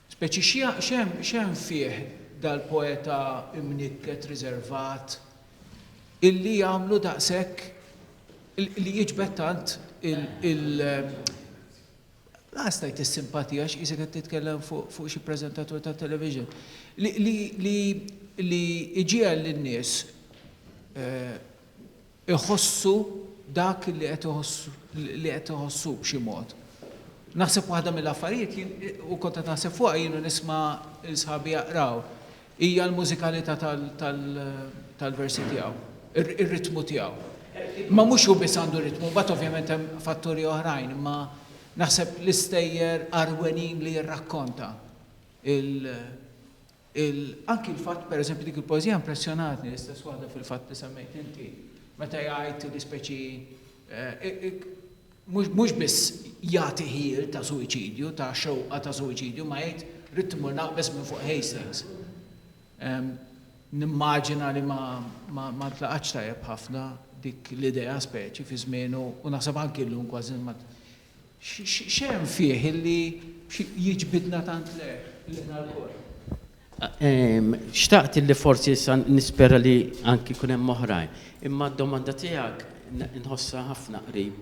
Speċi x'hemm fih dal-poeta imnikket riservat illi jagħmlu daqshekk li jiġbed tant il la għażt ngħid is-simpatija għax qisek qed titkellem fuq xi preżentatur ta' television li iġiegħel lin-nies iħossu dak li qed iħossu li qed iħossu b'xi mod. Naħseb waħda mill-affarijiet jien u kont qed naħseb fuqha jien u nisma' lil sħabi jaqraw hija l-mużikalità tal-versi tiegħu, ir-ritmu tiegħu. Ma mhux hu biss għandu ritmu, mbagħad ovvjament hemm fatturi oħrajn, imma naħseb l-istejjer qarwenin li jirrakkonta il- Il, anki l-fatt, per eżempju, dik il-poeżija impressjonatni, l-istess waħda fil-fatt li semmejt inti, meta jgħid li speċi, mhux, mhux biss jagħti ħjiel ta' suwiċidju, ta' xewqa ta' suwiċidju, imma jgħid ridt immur naqbeż minn fuq Hastings. Nimmaġina li ma, ma, ma ntlaqatx tajjeb ħafna dik l-idea speċi fi żmienu u naħseb anki llum kważi ma, X'hemm fih illi jiġbidna tant l-għerq lilna lkoll? Xtaqt illi forsi issa nispera li anki jkun hemm oħrajn. Imma d-domanda tiegħek nħossha ħafna qrib.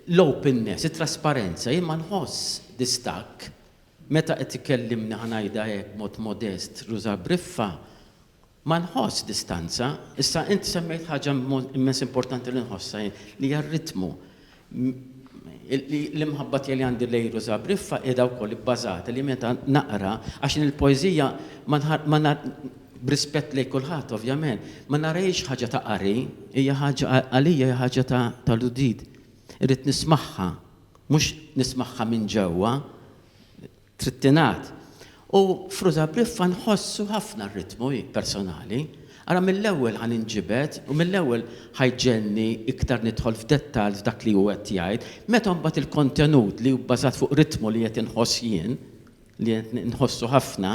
L-openness, it-trasparenza, jien ma nħoss distakk meta qed ikellimni, ħa ngħidha hekk b'mod modest, Rosa Briffa, Ma nħoss distanza. Issa int semmejt ħaġa immens importanti li nħossha jien, li hija r-ritmu. L-imħabba tiegħi li għandi lejn Rosa Briffa qiegħda wkoll ibbażata li meta naqra, għax jien il-poeżija ma b'rispett lejn kulħadd ovvjament, ma narahiex ħaġa ta' qari, hija ħaġa għalija hija ħaġa tal-udiit. Irrid nismagħha, mhux nismagħha minn ġewwa. Trid tingħad. U Fruit Abriffa nħossu ħafna r-ritmu hi personali. Ara mill-ewwel ħa ninġibed u mill-ewwel ħa jġegħelni iktar nidħol f'dettall f'dak li hu qed jgħid. Meta mbagħad il-kontenut li hu bbażat fuq ritmu li qed inħoss jien, li qed nħossu ħafna,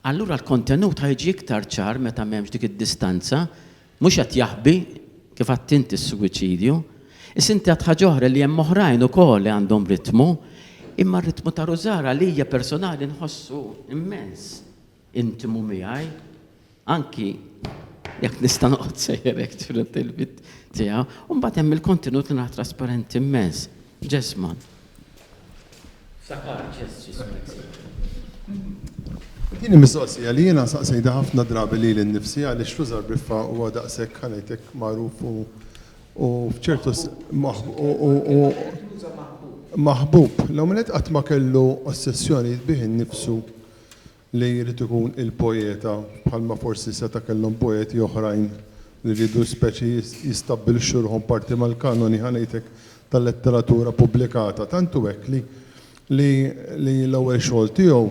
allura l-kontenut ħa jiġi iktar ċar meta m'hemmx dik id-distanza Mhux qed jaħbi, kif għedt int, is-suwiċidju. Issa inti għedt ħaġa oħra li hemm oħrajn ukoll li għandhom ritmu, imma r-ritmu ta' Rużar għalija personali nħossu immens intimu miegħi, anki jekk nista' noqgħod sejjer hekk ġurnat il-mitt tiegħu. U mbagħad hemm il-kontenut li nara trasparenti immens. Ġesma. Sakar, ġest, ġismek, sejjer. Din hi mistoqsija li jiena saqsejtha ħafna drabi lili nnifsi għaliex Lużar Briffa huwa daqshekk ħa ngħidlek magħruf u u f'ċertu s- maħb- u- u- u- Maħbub. L-ewwel nett qatt ma kellu ossessjoni bih innifsu Li jrid ikun il-poeta, bħalma forsi seta' kellhom poeti oħrajn li riedu speċi jistabbilixxu ruħhom parti mal-kanoni, ħa ngħidlek, tal-letteratura pubblikata. Tant hu hekk li li li l-ewwel xogħol tiegħu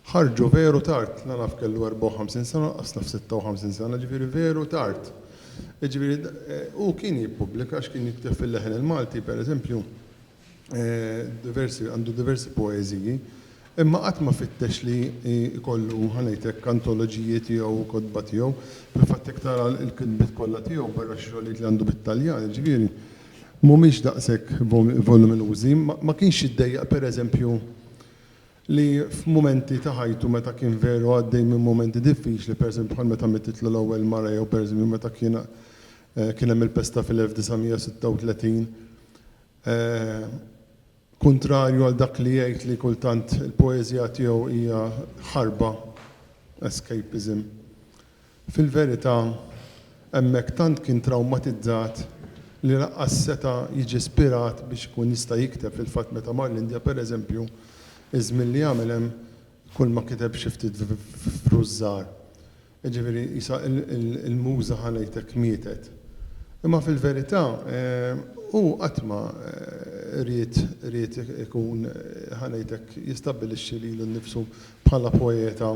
ħarġu veru tard, la naf kellu 54 sena, lanqas naf 56 sena, jiġifieri veru tard. Jiġifieri hu kien jippubblika għax kien jikteb fil-leħen il-Malti, pereżempju, diversi, għandu diversi poeżiji, imma qatt ma fittex li jkollu, ħa ngħid hekk, antoloġiji tiegħu u kotba tiegħu. Fil-fatt jekk tara l-kitbiet kollha tiegħu, barra xi xogħlijiet li għandu bit-Taljan, jiġifieri, mhumiex daqshekk voluminużi. Ma kienx jiddejjaq, per eżempju, li f'mumenti ta' ħajtu meta kien veru għaddej minn mumenti diffiċli, per eżempju, bħal meta mittitlu l-ewwel mara jew, per eżempju, meta kien hemm il-pesta fil-1936, Kuntrarju għal dak li jgħid li kultant il-poeżija tiegħu hija ħarba, escapism. Fil-verità, hemmhekk tant kien trawmatizzat li lanqas seta' jiġi spirat biex ikun jista' jikteb. Fil-fatt meta mar l-Indja, pereżempju, iż-żmien li għamel hemm, kulma kiteb xi ftit vruż żgħar. Jiġifieri qisha l-Muża ħa ngħidlek mietet. Imma fil-verità hu qatt ma ried ried ikun ħa ngħidlek jistabbilixxi lilu nnifsu bħala poeta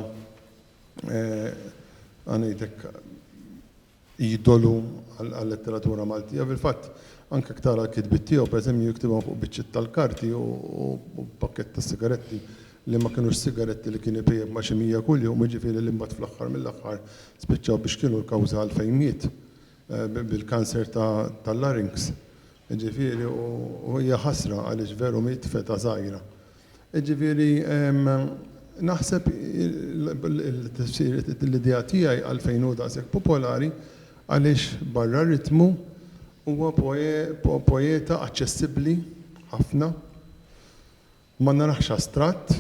ħa ngħidlek idolu għal-letteratura Maltija. Fil-fatt, anke jekk tara l-kitbiet tiegħu, pereżempju, jiktibhom fuq biċċiet tal-karti u pakkett ta' sigaretti li ma kinux sigaretti li kien ipejjep ma' xi mija kuljum, jiġifieri li mbagħad fl-aħħar mill-aħħar spiċċaw biex kienu l-kawża għalfejn miet, bil-kanser tal-larynx. Jiġifieri u hija ħasra għaliex veru miet f'età żgħira. Jiġifieri naħseb il-tifsir l-idea tiegħi għalfejn hu daqshekk popolari għaliex barra r-ritmu huwa poeta aċċessibbli ħafna. Ma narahx astratt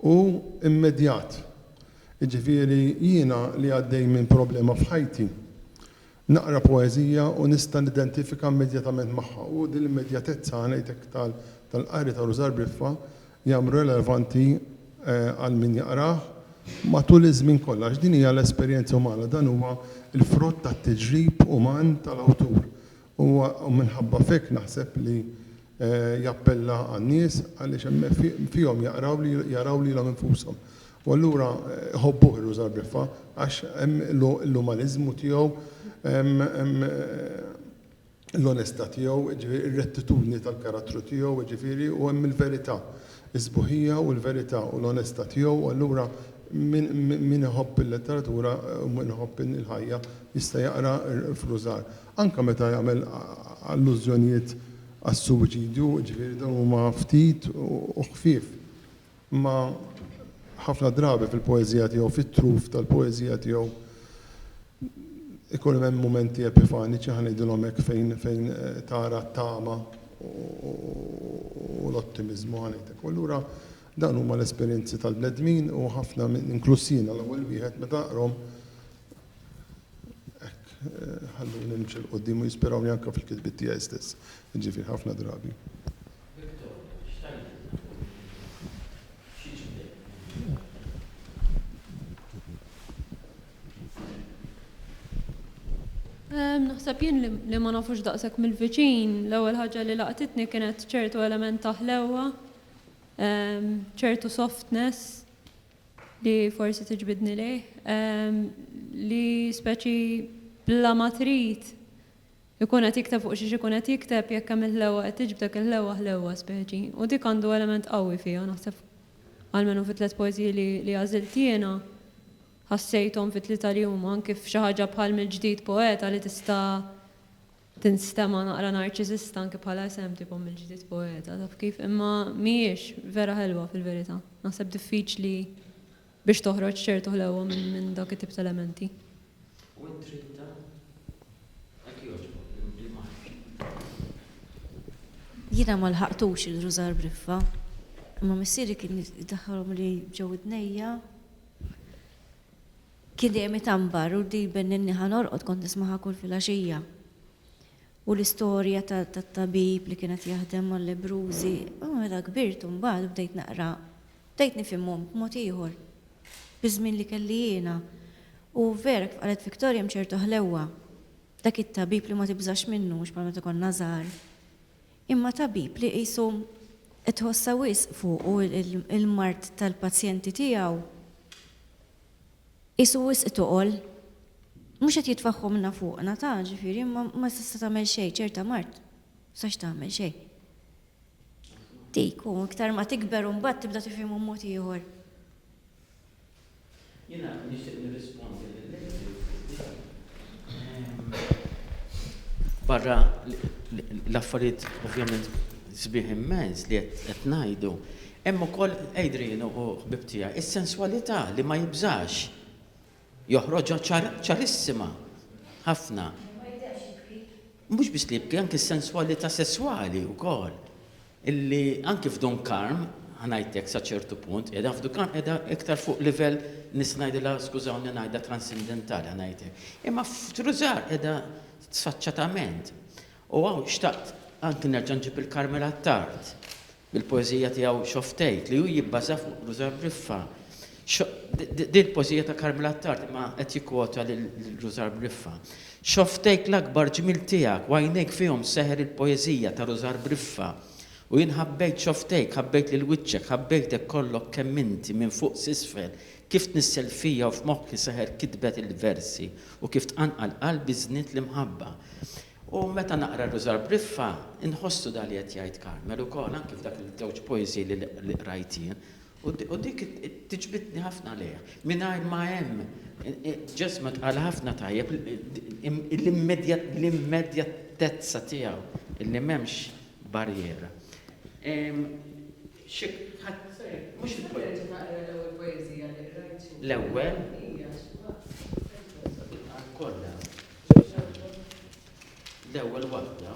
u immedjat. Jiġifieri jiena li għaddej minn problema f'ħajti, naqra poeżija u nista' nidentifika immedjatament magħha u din l-immedjatezza ngħidlek tal-qari ta' Rużar Briffa jagħmlu relevanti għal min jaqrah matul iż-żmien kollu għax din hija l-esperjenza umana, dan huwa l-frott tat-tiġrib uman tal-awtur Huwa minħabba f'hekk naħseb li jappella għan-nies għaliex hemm fihom jaqraw li jaraw lilhom infushom u allura iħobbuh ir-Ruż Arbiffa għax hemm l-umaniżmu tiegħu, hemm l-onestà tiegħu, jiġifieri ir-rettitudni tal-karattru tiegħu, jiġifieri u hemm il-verità, is-sbuħija u l-verità u l-onestà tiegħu u allura min iħobb il-letteratura u min iħobb il-ħajja jista' jaqra f'Ruż Arbiffa. anke meta jagħmel allużjonijiet għas-suwiċidju, jiġifieri dawn huma ftit u ħfief, imma ħafna drabi fil-poeżija tiegħu, fit-truf tal-poeżija tiegħu ikun hemm mumenti epifaniċi, ħa ngħidilhom hekk, fejn fejn tara t-tama u l-ottimiżmu, ħa ngħid hekk. U allura dawn huma l-esperjenzi tal-bnedmin u ħafna minn, inkluż jiena l-ewwel wieħed, meta aqrahom, Hekk, ħalluni nimxi 'l quddiem u jispirawni anke fil-kitbiet tiegħi stess, jiġifieri ħafna drabi. Naħseb jien li ma nafux daqshekk mill-viċin, l-ewwel ħaġa li laqtitni kienet ċertu element ta' ħlewwa, ċertu softness, li forsi tiġbidni lejh, li speċi bla ma trid ikun qed jikteb fuq xiex ikun qed jikteb jekk hemm il-ħlewwa qed tiġbdek il-ħlewwa ħlewwa speċi u dik għandu element qawwi fiha naħseb almenu fit-tliet poeżiji li għażilt jiena ħassejthom fit-tlieta li huma anki f'xi ħaġa bħal mill-ġdid poeta li tista' Tinstema' naqra narċisista anke bħala isem tipo mill-ġdid poeta, taf kif, imma mhijiex, vera ħelwa fil-verità. Naħseb diffiċli biex toħroġ ċertu ħlewwa minn dawk it-tip ta' elementi. U int tridha? Hekk jogħġbok li marx. Jiena ma lħaqtux il-rużar b'riffa, imma missieri kien idaħħalhom li ġew idnejja. Kidemi tanbar u ddiben in-niħa norqod kont nismagħha kull filgħaxija. U l-istorja tat-tabib li kien qed jaħdem mal-lebbrużi, imma meta kbirt u mbagħad u bdejt naqra, bdejt nifhimhom b'mod ieħor. Biż-żmien li kelli jiena. U vera kif qalet Victoria hemm ċertu ħlewwa. Dak it-tabib li ma tibżax minnu mhux bħal meta konna żgħar. Imma tabib li qisu qed tħossha wisq fuqu l-mard tal-pazjenti tiegħu. Qisu wisq toqol. Mhux qed jitfaħħu minna fuqna, ta, ġifieri, imma ma tista' tagħmel xejn, ċerta mard sa x'tagħmel xejn. Dik, u iktar ma tikber u mbagħad tibda tifhimhom mod ieħor. Jiena nixtieq nirrispondi lill-lady li barra l-affarijiet ovvjament sbieħ immens li qed ngħidu, Hemm ukoll Adrian u hu ħbieb tiegħi. Is-senswalità li ma jibżax joħroġha ċarissima ħafna. Mhux biss li jibki, anki s-senswalità sesswali wkoll. Illi anki f'Dun Karm, ħa ngħidlek sa ċertu punt, qiegħda f'Dun Karm qiegħda iktar fuq livell nista' ngħidilha skużawni ngħidha transindentali ħa ngħid hekk. Imma f'Trużar qiegħda sfaċċatament. U hawn xtaqt anki nerġa' nġib il-Karmela Attard. Il-poeżija tiegħu X'Off Tgħid, li hu jibbaża fuq Rużann Riffa. Din poeżija ta' Carmel Attard imma qed jikkwota lil Rużann Riffa. X'Off Tgħid l-akbar ġmiel tiegħek u għajnejk fihom seħer il-poeżija ta' Rużann Riffa. U jien ħabbejt X'Off Tgħidk, ħabbejt lil wiċċek, ħabbejtek kollok kemm inti, minn fuq s'isfel, kif tnissel fija u f'moħħi seħer kitbet il-versi u kif tqanqal qalbi żnied l-imħabba. U meta naqra r-Rużar Briffa, inħossu dak li qed jgħid Carmel ukoll, anki f'dak il-żewġ poeżiji li qrajt jien. U dik tiġbidni ħafna lejha. Mingħajr ma hemm, Ġesmet qal ħafna tajjeb, l-immedjatezza tiegħu, li m'hemmx barriera. Xi ħadd. Mhux il-poeta. Naqra l-ewwel poeżija li qrajt. L-ewwel? Hija xi waħda. Kollha. L-ewwel waħda.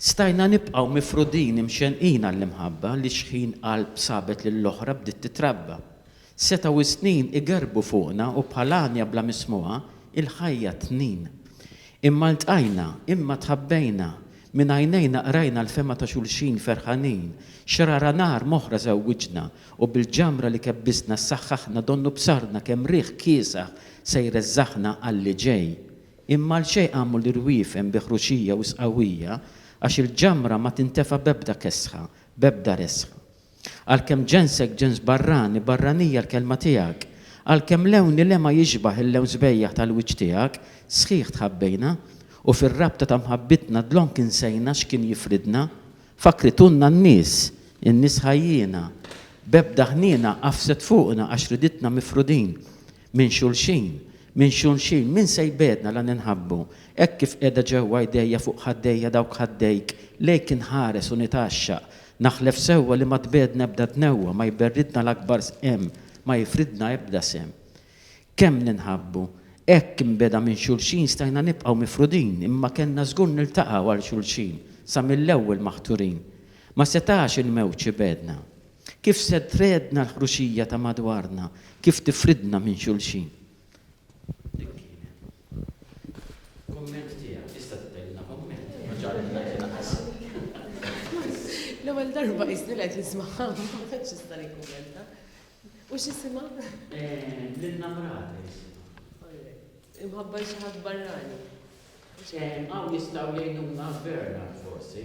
Stajna nibqgħu mifrudin imxenqin għall-imħabba li xħin qalb sabet lill-oħra bdiet titrabba. Setgħu s-snin igerrbu fuqna u bħal għanja bla mismugħa, il-ħajja tnin. Imma ltqajna, imma tħabbejna, minn għajnejna qrajna l-fehma ta' xulxin ferħanin, xrara nar m'oħra żewwiġna u bil-ġamra li kebbisna ssaħħaħna donnu b'sarna kemm riħ kiesaħ se jreżżaħna għall-li ġej. Imma għal xejn qamu l-irwiefen bi ħruxija u sqawwija għax il-ġamra ma tintefa' b'ebda kesħa, b'ebda resħa. Għalkemm ġensek ġens barrani, barranija l-kelma tiegħek, għalkemm lewni le ma jixbah il-lewn sbejjaħ tal-wiċċ tiegħek, sħiħ tħabbejna, u fir-rabta ta' mħabbitna dlonk insejna x'kien jifridna. Fakkritunna n-nies, in-nies ħajjiena, b'ebda ħniena għafset fuqna għax riditna mifrudin, minn xulxin, minn xulxin, min se jbegħdna la ninħabbu, hekk kif qiegħda ġewwa jdejja fuq ħaddejja dawk ħaddejk lejk inħares u nitgħaxxaq, Naħlef sewwa li ma tbegħedna ebda tnewwa, ma jberridna l-akbar sqem, ma jifridna ebda sehem. Kemm ninħabbu! Hekk, imbegħda minn xulxin, stajna nibqgħu mifrudin, imma kellna żgur niltaqgħu għal xulxin, sa mill-ewwel maħturin. Ma setax il-mewġ ibegħedna. Kif se tregħedna l-ħruxija ta' madwarna, kif tifridna minn xulxin? Kumment tiegħek, tista' tgħidilna kumment? Ma ġara li ngħid inqas. L-ewwel darba qisni qed nismaha, ma tantx nista' nikkummenta. U x'isimha? Lilna Mrata jisimha. Imħabba xi ħadd barrani. Hawn jistgħu jgħinuna Bernard forsi.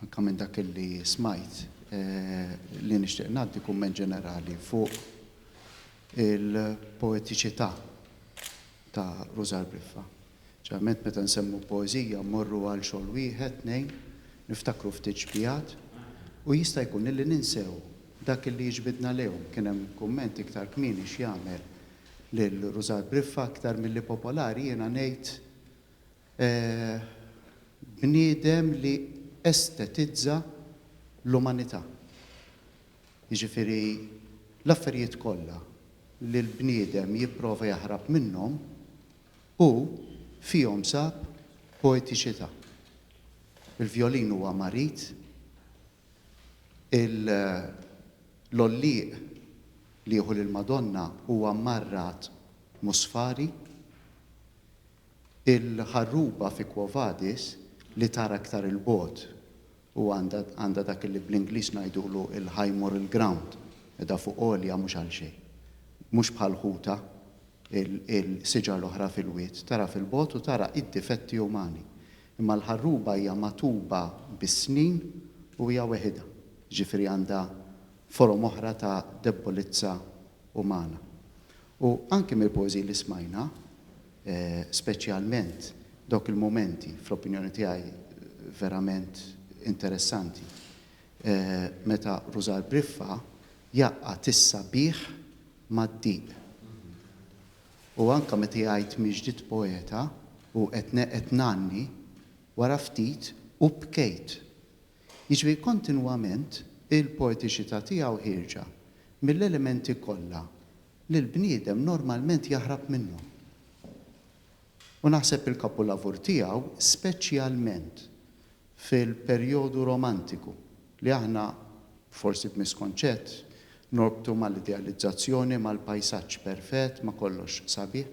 Anke minn dak li smajt li nixtieq ngħaddi kumment ġenerali fuq il-poetiċità ta' Rużar Briffa. Ġeneralment meta nsemmu poeżija mmorru għal xogħol wieħed, tnejn, niftakru ftit xbigħat u jista' jkun illi ninsew dak li jiġbidna lejhom. Kien hemm kumment iktar kmieni x'jagħmel lil Rużar Briffa aktar milli popolari, jiena ngħid bniedem li estetizza l-umanità. Jiġifieri l-affarijiet kollha li l-bniedem jipprova jaħrab minnhom, hu fihom sab poetiċità. Il-vjolin huwa marid, l-għollieq li jieħu lill-Madonna huwa mmarrat musfari, Il-ħarruba fi Quo Vadis li tara iktar 'il bogħod u għandha dak li bl-Ingliż ngħidulu l-high moral ground, qiegħda fuq għolja mhux għal xejn. Mhux bħal ħutha, il-siġar l-oħra fil-wied, tara fil bogħod u tara id-difetti umani. Imma l-ħarruba hija magħtuba bis-snin u hija weħidha, jiġifieri għandha forom oħra ta' debbolizza umana. U anki mill-poeżiji li smajna, Speċjalment dawk il-mumenti, fl-opinjoni tiegħi, verament interessanti meta Rużar Briffa jgħaqqad is-sabiħ mad-diq. U anke meta jgħid mhi ġdiet poeta u qed qed ngħanni, wara ftit u bkejt. Jiġifieri kontinwament il-poetiċità tiegħu ħierġa mill-elementi kollha li l-bniedem normalment jaħrab minnhom. U naħseb il-kapulavur tiegħu, speċjalment fil-perjodu romantiku, li aħna, forsi b'miskonċett, norbtu mal-idealizzazzjoni, mal-pajsaġġ perfett, ma' kollox sabiħ,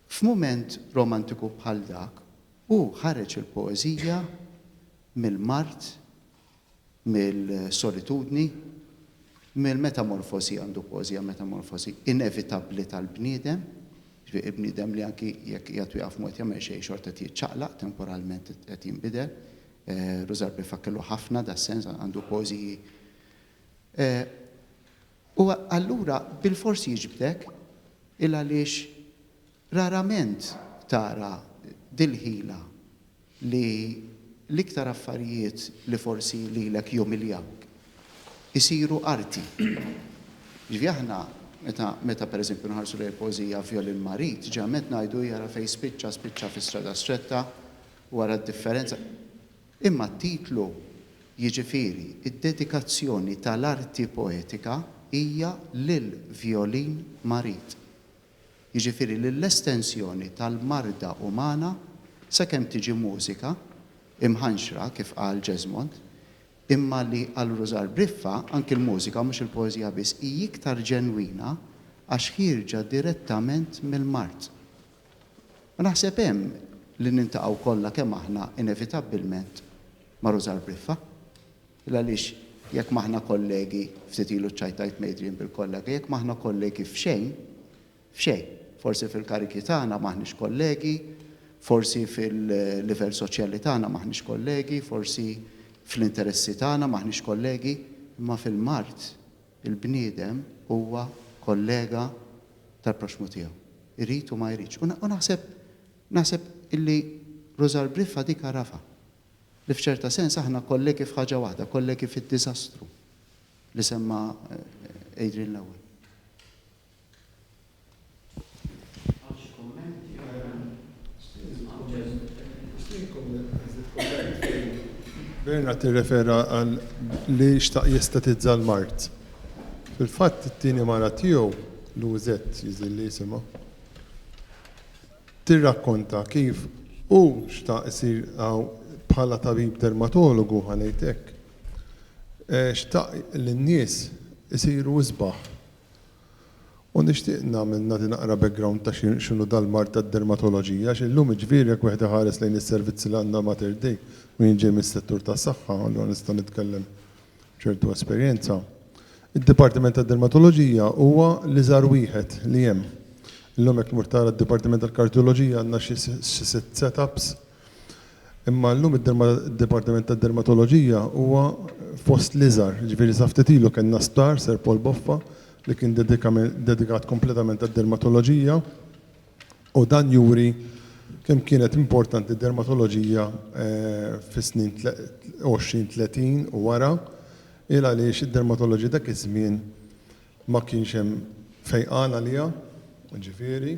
f'mument romantiku bħal dak, hu ħareġ il-poeżija mill-mard mill-solitudni, mill-metamorfosi, għandu poeżija metamorfosi inevitabbli tal-bniedem, jiġifieri bniedem li anki jekk qiegħed u jaqaf ma qed jagħmel xejn xorta qed jiċċaqlaq temporalment qed jinbidel. Rużarb ifakkirlu ħafna das-sens għandu poeżiji. U allura bilfors jiġbdek il għaliex rarament tara dil-ħila li l-iktar affarijiet li forsi lilek jumiljawk isiru arti. Jiġifieri aħna meta meta pereżempju nħarsu lejn il-poeżija Vjolin Marit, ġeneralment ngħidu hija ara fejn spiċċa, spiċċa fi strada stretta u ara d-differenza. Imma t-titlu, jiġifieri d-dedikazzjoni tal-arti poetika hija lil Vjolin Marit. jiġifieri li l-estensjoni tal-marda umana sakemm tiġi mużika, imħanxra, kif qal Jesmond, imma li għal Rużar Briffa anki l-mużika, mhux il-poeżija biss, hi iktar ġenwina għax ħierġa direttament mill-mard. U naħseb hemm li niltaqgħu kollha kemm aħna inevitabbilment ma' Rużar Briffa. Il għaliex jekk m'aħna kollegi, ftit ilu ċċajtajt m'Adrian bil-kollega, jekk m'aħna kollegi f'xejn, f'xejn, forsi fil-karigi tagħna m'aħniex kollegi, forsi fil-livell soċjali tagħna m'aħniex kollegi, forsi fl-interessi tagħna m'aħniex kollegi, imma fil-mard il-bniedem huwa kollega tal-proxxmu tiegħu, irid u ma jridx. U naħseb, naħseb illi Rużal Briffa dik għarafha. li f'ċerta sens aħna kollegi f'ħaġa waħda, kollegi fid-diżastru li semma Adrian l-ewwel. Bernard tirrefera għal li xtaq jestatizza l-mart. Fil-fatt it-tieni mara tiegħu l-UZ jiżilli jisimha. tirrakkonta kif hu xtaq isir bħala tabib dermatologu, ħa ngħid hekk. Xtaq li n-nies isiru isbaħ. U nixtieq nagħmel nagħti naqra background ta' x'inhu dal-mard tad-dermatoloġija għax illum jiġifieri jekk wieħed iħares lejn is-servizzi li għandna Mater Dei u jien ġej mis-settur tas-saħħa allura nista' nitkellem ċertu esperjenza. Id-Dipartiment tad-Dermatoloġija huwa l-iżgħar wieħed li hemm. Illum jekk tmur tara d-Dipartiment tal-Kardjoloġija għandna xi sitt set-ups. Imma llum id-Dipartiment tad-Dermatoloġija huwa fost l-iżgħar. Jiġifieri sa ftit ilu kellna sptar, Sir Paul Boffa, li kien dedikat kompletament għad-dermatoloġija. u dan juri kemm kienet importanti d-dermatoloġija fis-snin 20, 30 u wara, il għaliex id-dermatoloġija dak iż-żmien ma kienx hemm fejqan għaliha, jiġifieri,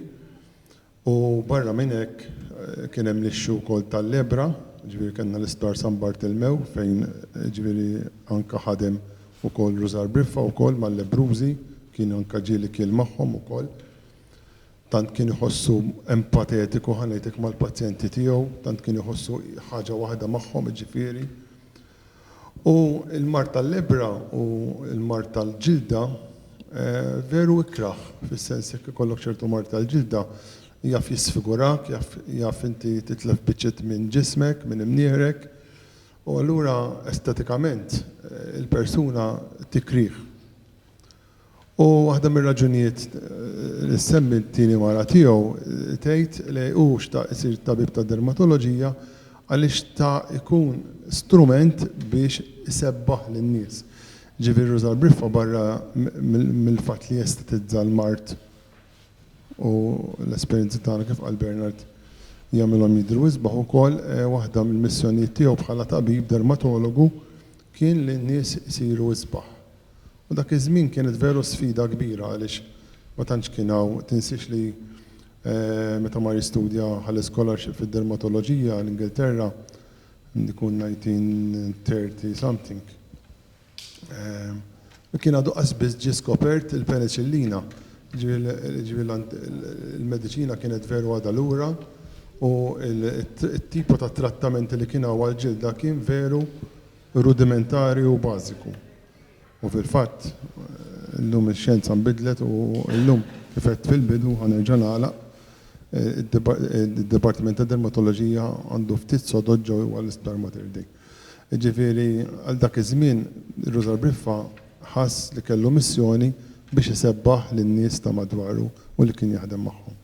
u barra minn hekk kien hemm l-issue wkoll tal-lebra, jiġifieri kellna l-Isptar San Bartilmew fejn jiġifieri anke ħadem ukoll Rużar Briffa wkoll mal-lebrużi, kien anke ġieli kiel magħhom ukoll. tant kien iħossu empatetiku ħa ngħidlek mal-pazjenti tiegħu, tant kien iħossu ħaġa waħda magħhom jiġifieri. U l-mard tal-lebbra u l-mard tal-ġilda veru ikrah, fis-sens jekk ikollok ċertu mard tal-ġilda jaf jisfigurak, jaf jaf inti titlef biċċiet minn ġismek, minn imnieħrek, u allura estetikament il-persuna tikrih. U waħda mir-raġunijiet li ssemmi t-tieni mara tiegħu tgħid li hu xtaq isir tabib tad-dermatoloġija għaliex xta' jkun strument biex isebbaħ lin-nies. Jiġifieri ruża l-briffa barra mill-fatt li jestetizza l-mard u l-esperjenzi tagħna kif qal Bernard jagħmilhom jidhru isbaħ ukoll, waħda mill-missjonijiet tiegħu bħala tabib dermatologu kien li n-nies isiru isbaħ. U dak iż-żmien kienet veru sfida kbira għaliex ma tantx kien hawn, tinsiex li meta mar jistudja ħa scholarship fid-dermatoloġija l-Ingilterra, ikun 1930 something, kien għadu qas biss ġie skopert il-peniċillina, jiġifieri l-mediċina kienet veru għadha lura u t-tipo ta' trattamenti li kien hawn għall-ġilda kien veru rudimentari u bażiku. U fil-fatt, illum ix-xjenza nbidlet u illum, kif għedt fil-bidu, ħa nerġa' nagħlaq, id-dipartiment ta' dermatoloġija għandu ftit sodod ġo għal Isptar Mater Dei. Jiġifieri, għal dak iż-żmien, Rużar Briffa ħass li kellu missjoni biex isebbaħ lin-nies ta' madwaru u li kien jaħdem magħhom.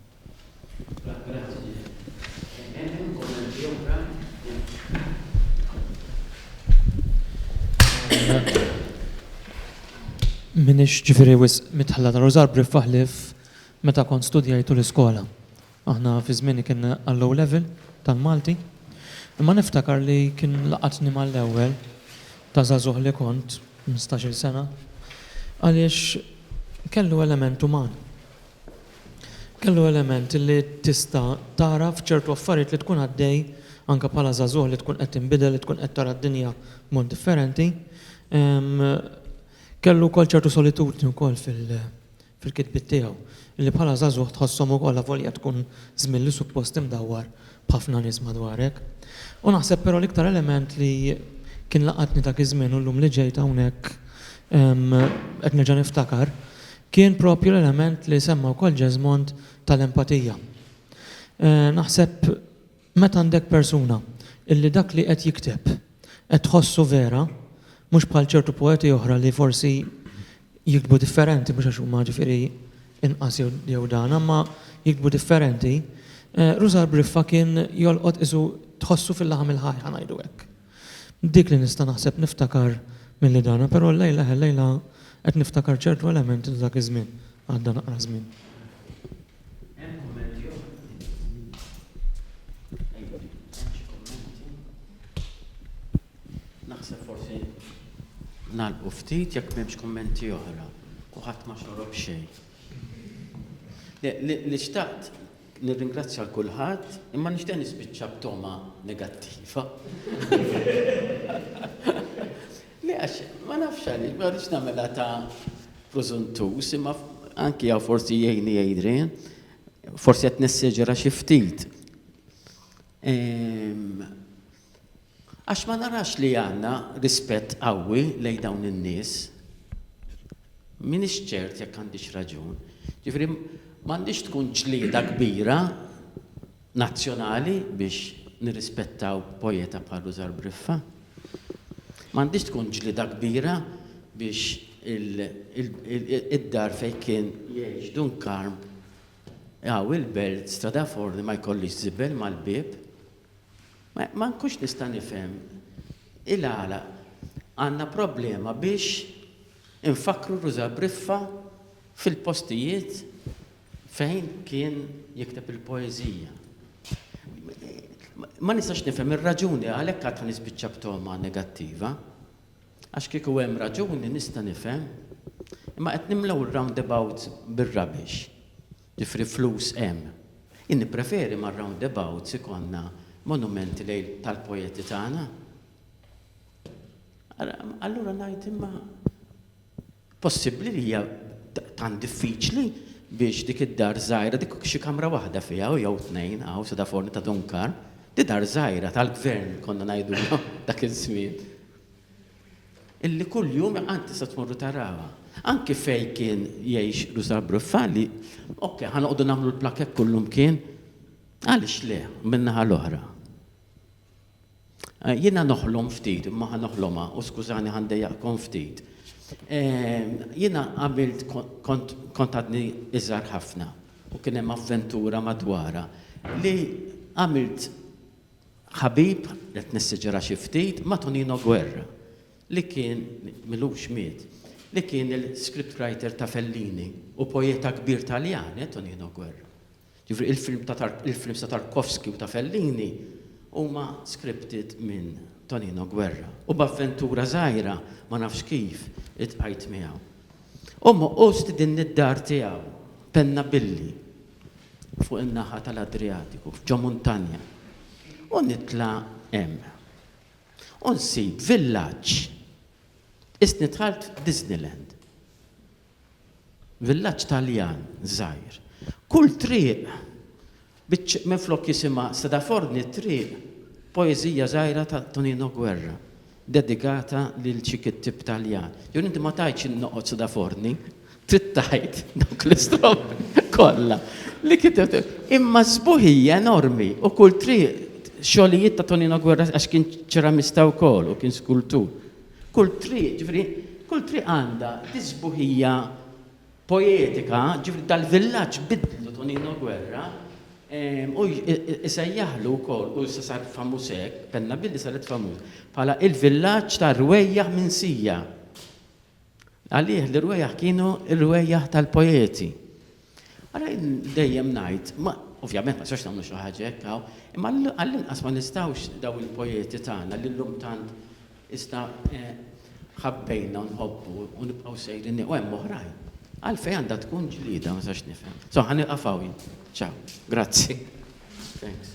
Minix ġifiri wis mitħalla ta' Rożar briffaħ li meta kont studjajtu l-iskola. Aħna fi żmieni kien għall-low level tal-Malti. Imma niftakar li kien laqatni mal-ewwel ta' żagħżugħ li kont, 15-il sena, għaliex kellu element uman. Kellu element li tista' tara f'ċertu affarijiet li tkun għaddej anke bħala żagħżugħ li tkun qed tinbidel li tkun qed tara d-dinja b'mod differenti. Kellu wkoll ċertu solitudni wkoll fil-kitbiet tiegħu li bħala żagħżugħ tħosshom ukoll avolja tkun żmien li suppost imdawwar b'ħafna nies madwarek. U naħseb però l-iktar element li kien laqatni dak iż-żmien u llum li ġejt hawnhekk qed nerġa' niftakar, kien proprju l-element li semma wkoll Jesmond tal-empatija. Naħseb meta għandek persuna illi dak li qed jikteb qed tħossu vera, mhux bħal ċertu poeti oħra li forsi jiktbu differenti mhux għax huma ġifieri inqas jew dan imma jiktbu differenti, Rużar Briffa kien jolqot qisu tħossu fil-laħam il-ħaj ħa ngħidu hekk. Dik li nista' naħseb niftakar milli dana però llejla ħellejla qed niftakar ċertu elementi ta' dak iż-żmien, għadda naqra żmien. Hemm kummenti oħra? Naħseb forsi nagħlqu ftit jekk m'hemmx kummenti oħra u ħadd ma xorob xejn. Li xtaqt nirringrazzja l kulħadd imma nixtieq nispiċċa b'togħma negattiva. Le għax ma nafx għaliex, ma rridx nagħmilha ta' prużuntuż imma anki hawn forsi jgħinni Adrian, forsi qed nessieġera xi ftit. Għax ma narax li għandna rispett qawwi lejn dawn in-nies. M'iniex ċert jekk għandix raġun. Jiġifieri m'għandhiex tkun ġlieda kbira nazzjonali biex nirrispettaw poeta bħal Rużar Briffa. M'għandhiex tkun ġlieda kbira biex id-dar fejn kien jgħix Dun Karm, hawn il-Belt, Strada Forni ma jkollhiex żibel mal-bieb. Ma nkunx nista' nifhem il-għala għandna problema biex infakkru Ruża Briffa fil-postijiet fejn kien jikteb il-poeżija. Ma nistax nifhem ir-raġuni għalhekk għad ħa nispiċċa b'togħma negattiva. Għax kieku hemm raġuni nista' nifhem. Imma qed nimlew ir-roundabouts bir-rubbish. Ġifri flus hemm. Jien nippreferi ma' roundabouts ikollna monumenti lejl tal-poeti tagħna. Allura ngħid imma possibbli li hija tant diffiċli biex dik id-dar żgħira dik xi kamra waħda fiha u jew tnejn hawn sa da forni ta' Dunkar. Di dar żgħira tal-gvern konna ngħidulha dak iż-żmien. illi kuljum għad tista' tmorru taraha. Anki fejn kien jgħix Rusa Bruffali, ok, ħa noqogħdu nagħmlu l-plakett kullumkien, għaliex le, min-naħa l-oħra. Jiena noħlom ftit, imma ħa noħlomha, u skużani ħa ndejjaqkom ftit. Jiena għamilt kont għadni iżgħar ħafna u kien hemm avventura madwarha li għamilt ħabib, qed nessiġera xi ftit, ma' Tonino Guerra, li kien, m'ilux miet, li kien il-scriptwriter ta' Fellini u poeta kbir Taljan, eh, Tonino Guerra. Jiġifieri il-films ta' Tarkovsky u ta' Fellini huma scripted minn Tonino Guerra. U b'avventura żgħira, ma nafx kif, iltqajt miegħu. U stidinni d-dar tiegħu, Pennabilli. fuq in-naħa tal-Adrijatiku, ġo muntanja, u nitla' hemm. U nsib villaġġ. Qisni dħalt Disneyland. Villaġġ Taljan żgħir. Kull triq, minflok jisimha Seda Forni t-triq, poeżija żgħira ta' Tonino Guerra. Dedikata lil xi kittieb Taljan. Jew inti ma tgħidx in noqgħod suda forni, trid tgħid dawk l-istrofi kollha li kitibt. Imma s-sbuħija enormi u kull triq xogħlijiet ta' Tonino Guerra għax kien ċeramista wkoll u kien skultur. Kull triq, ġifieri, kull triq għandha dis-sbuħija poetika, ġifieri dal-villaġġ biddlu Tonino Guerra u jsejjaħlu wkoll u issa sar famuż hekk, kellna billi saret famuż, bħala il-villaġġ tar-rwejjaħ minsija. Għalih l-irwejjaħ kienu r-rwejjaħ tal-poeti. Ara dejjem ngħid, Ovvjament ma sax nagħmlu xi ħaġa hekk hawn, imma għall-inqas ma nistgħux daw il-poeti tagħna li llum tant Iżda ħabbejna u nħobbu u nibqgħu sejrin u hemm oħrajn. Għalfejn għandha tkun ġlieda ma nistax nifhem. So ħa nieqaf hawn jien. Ciao. Grazzi. Thanks.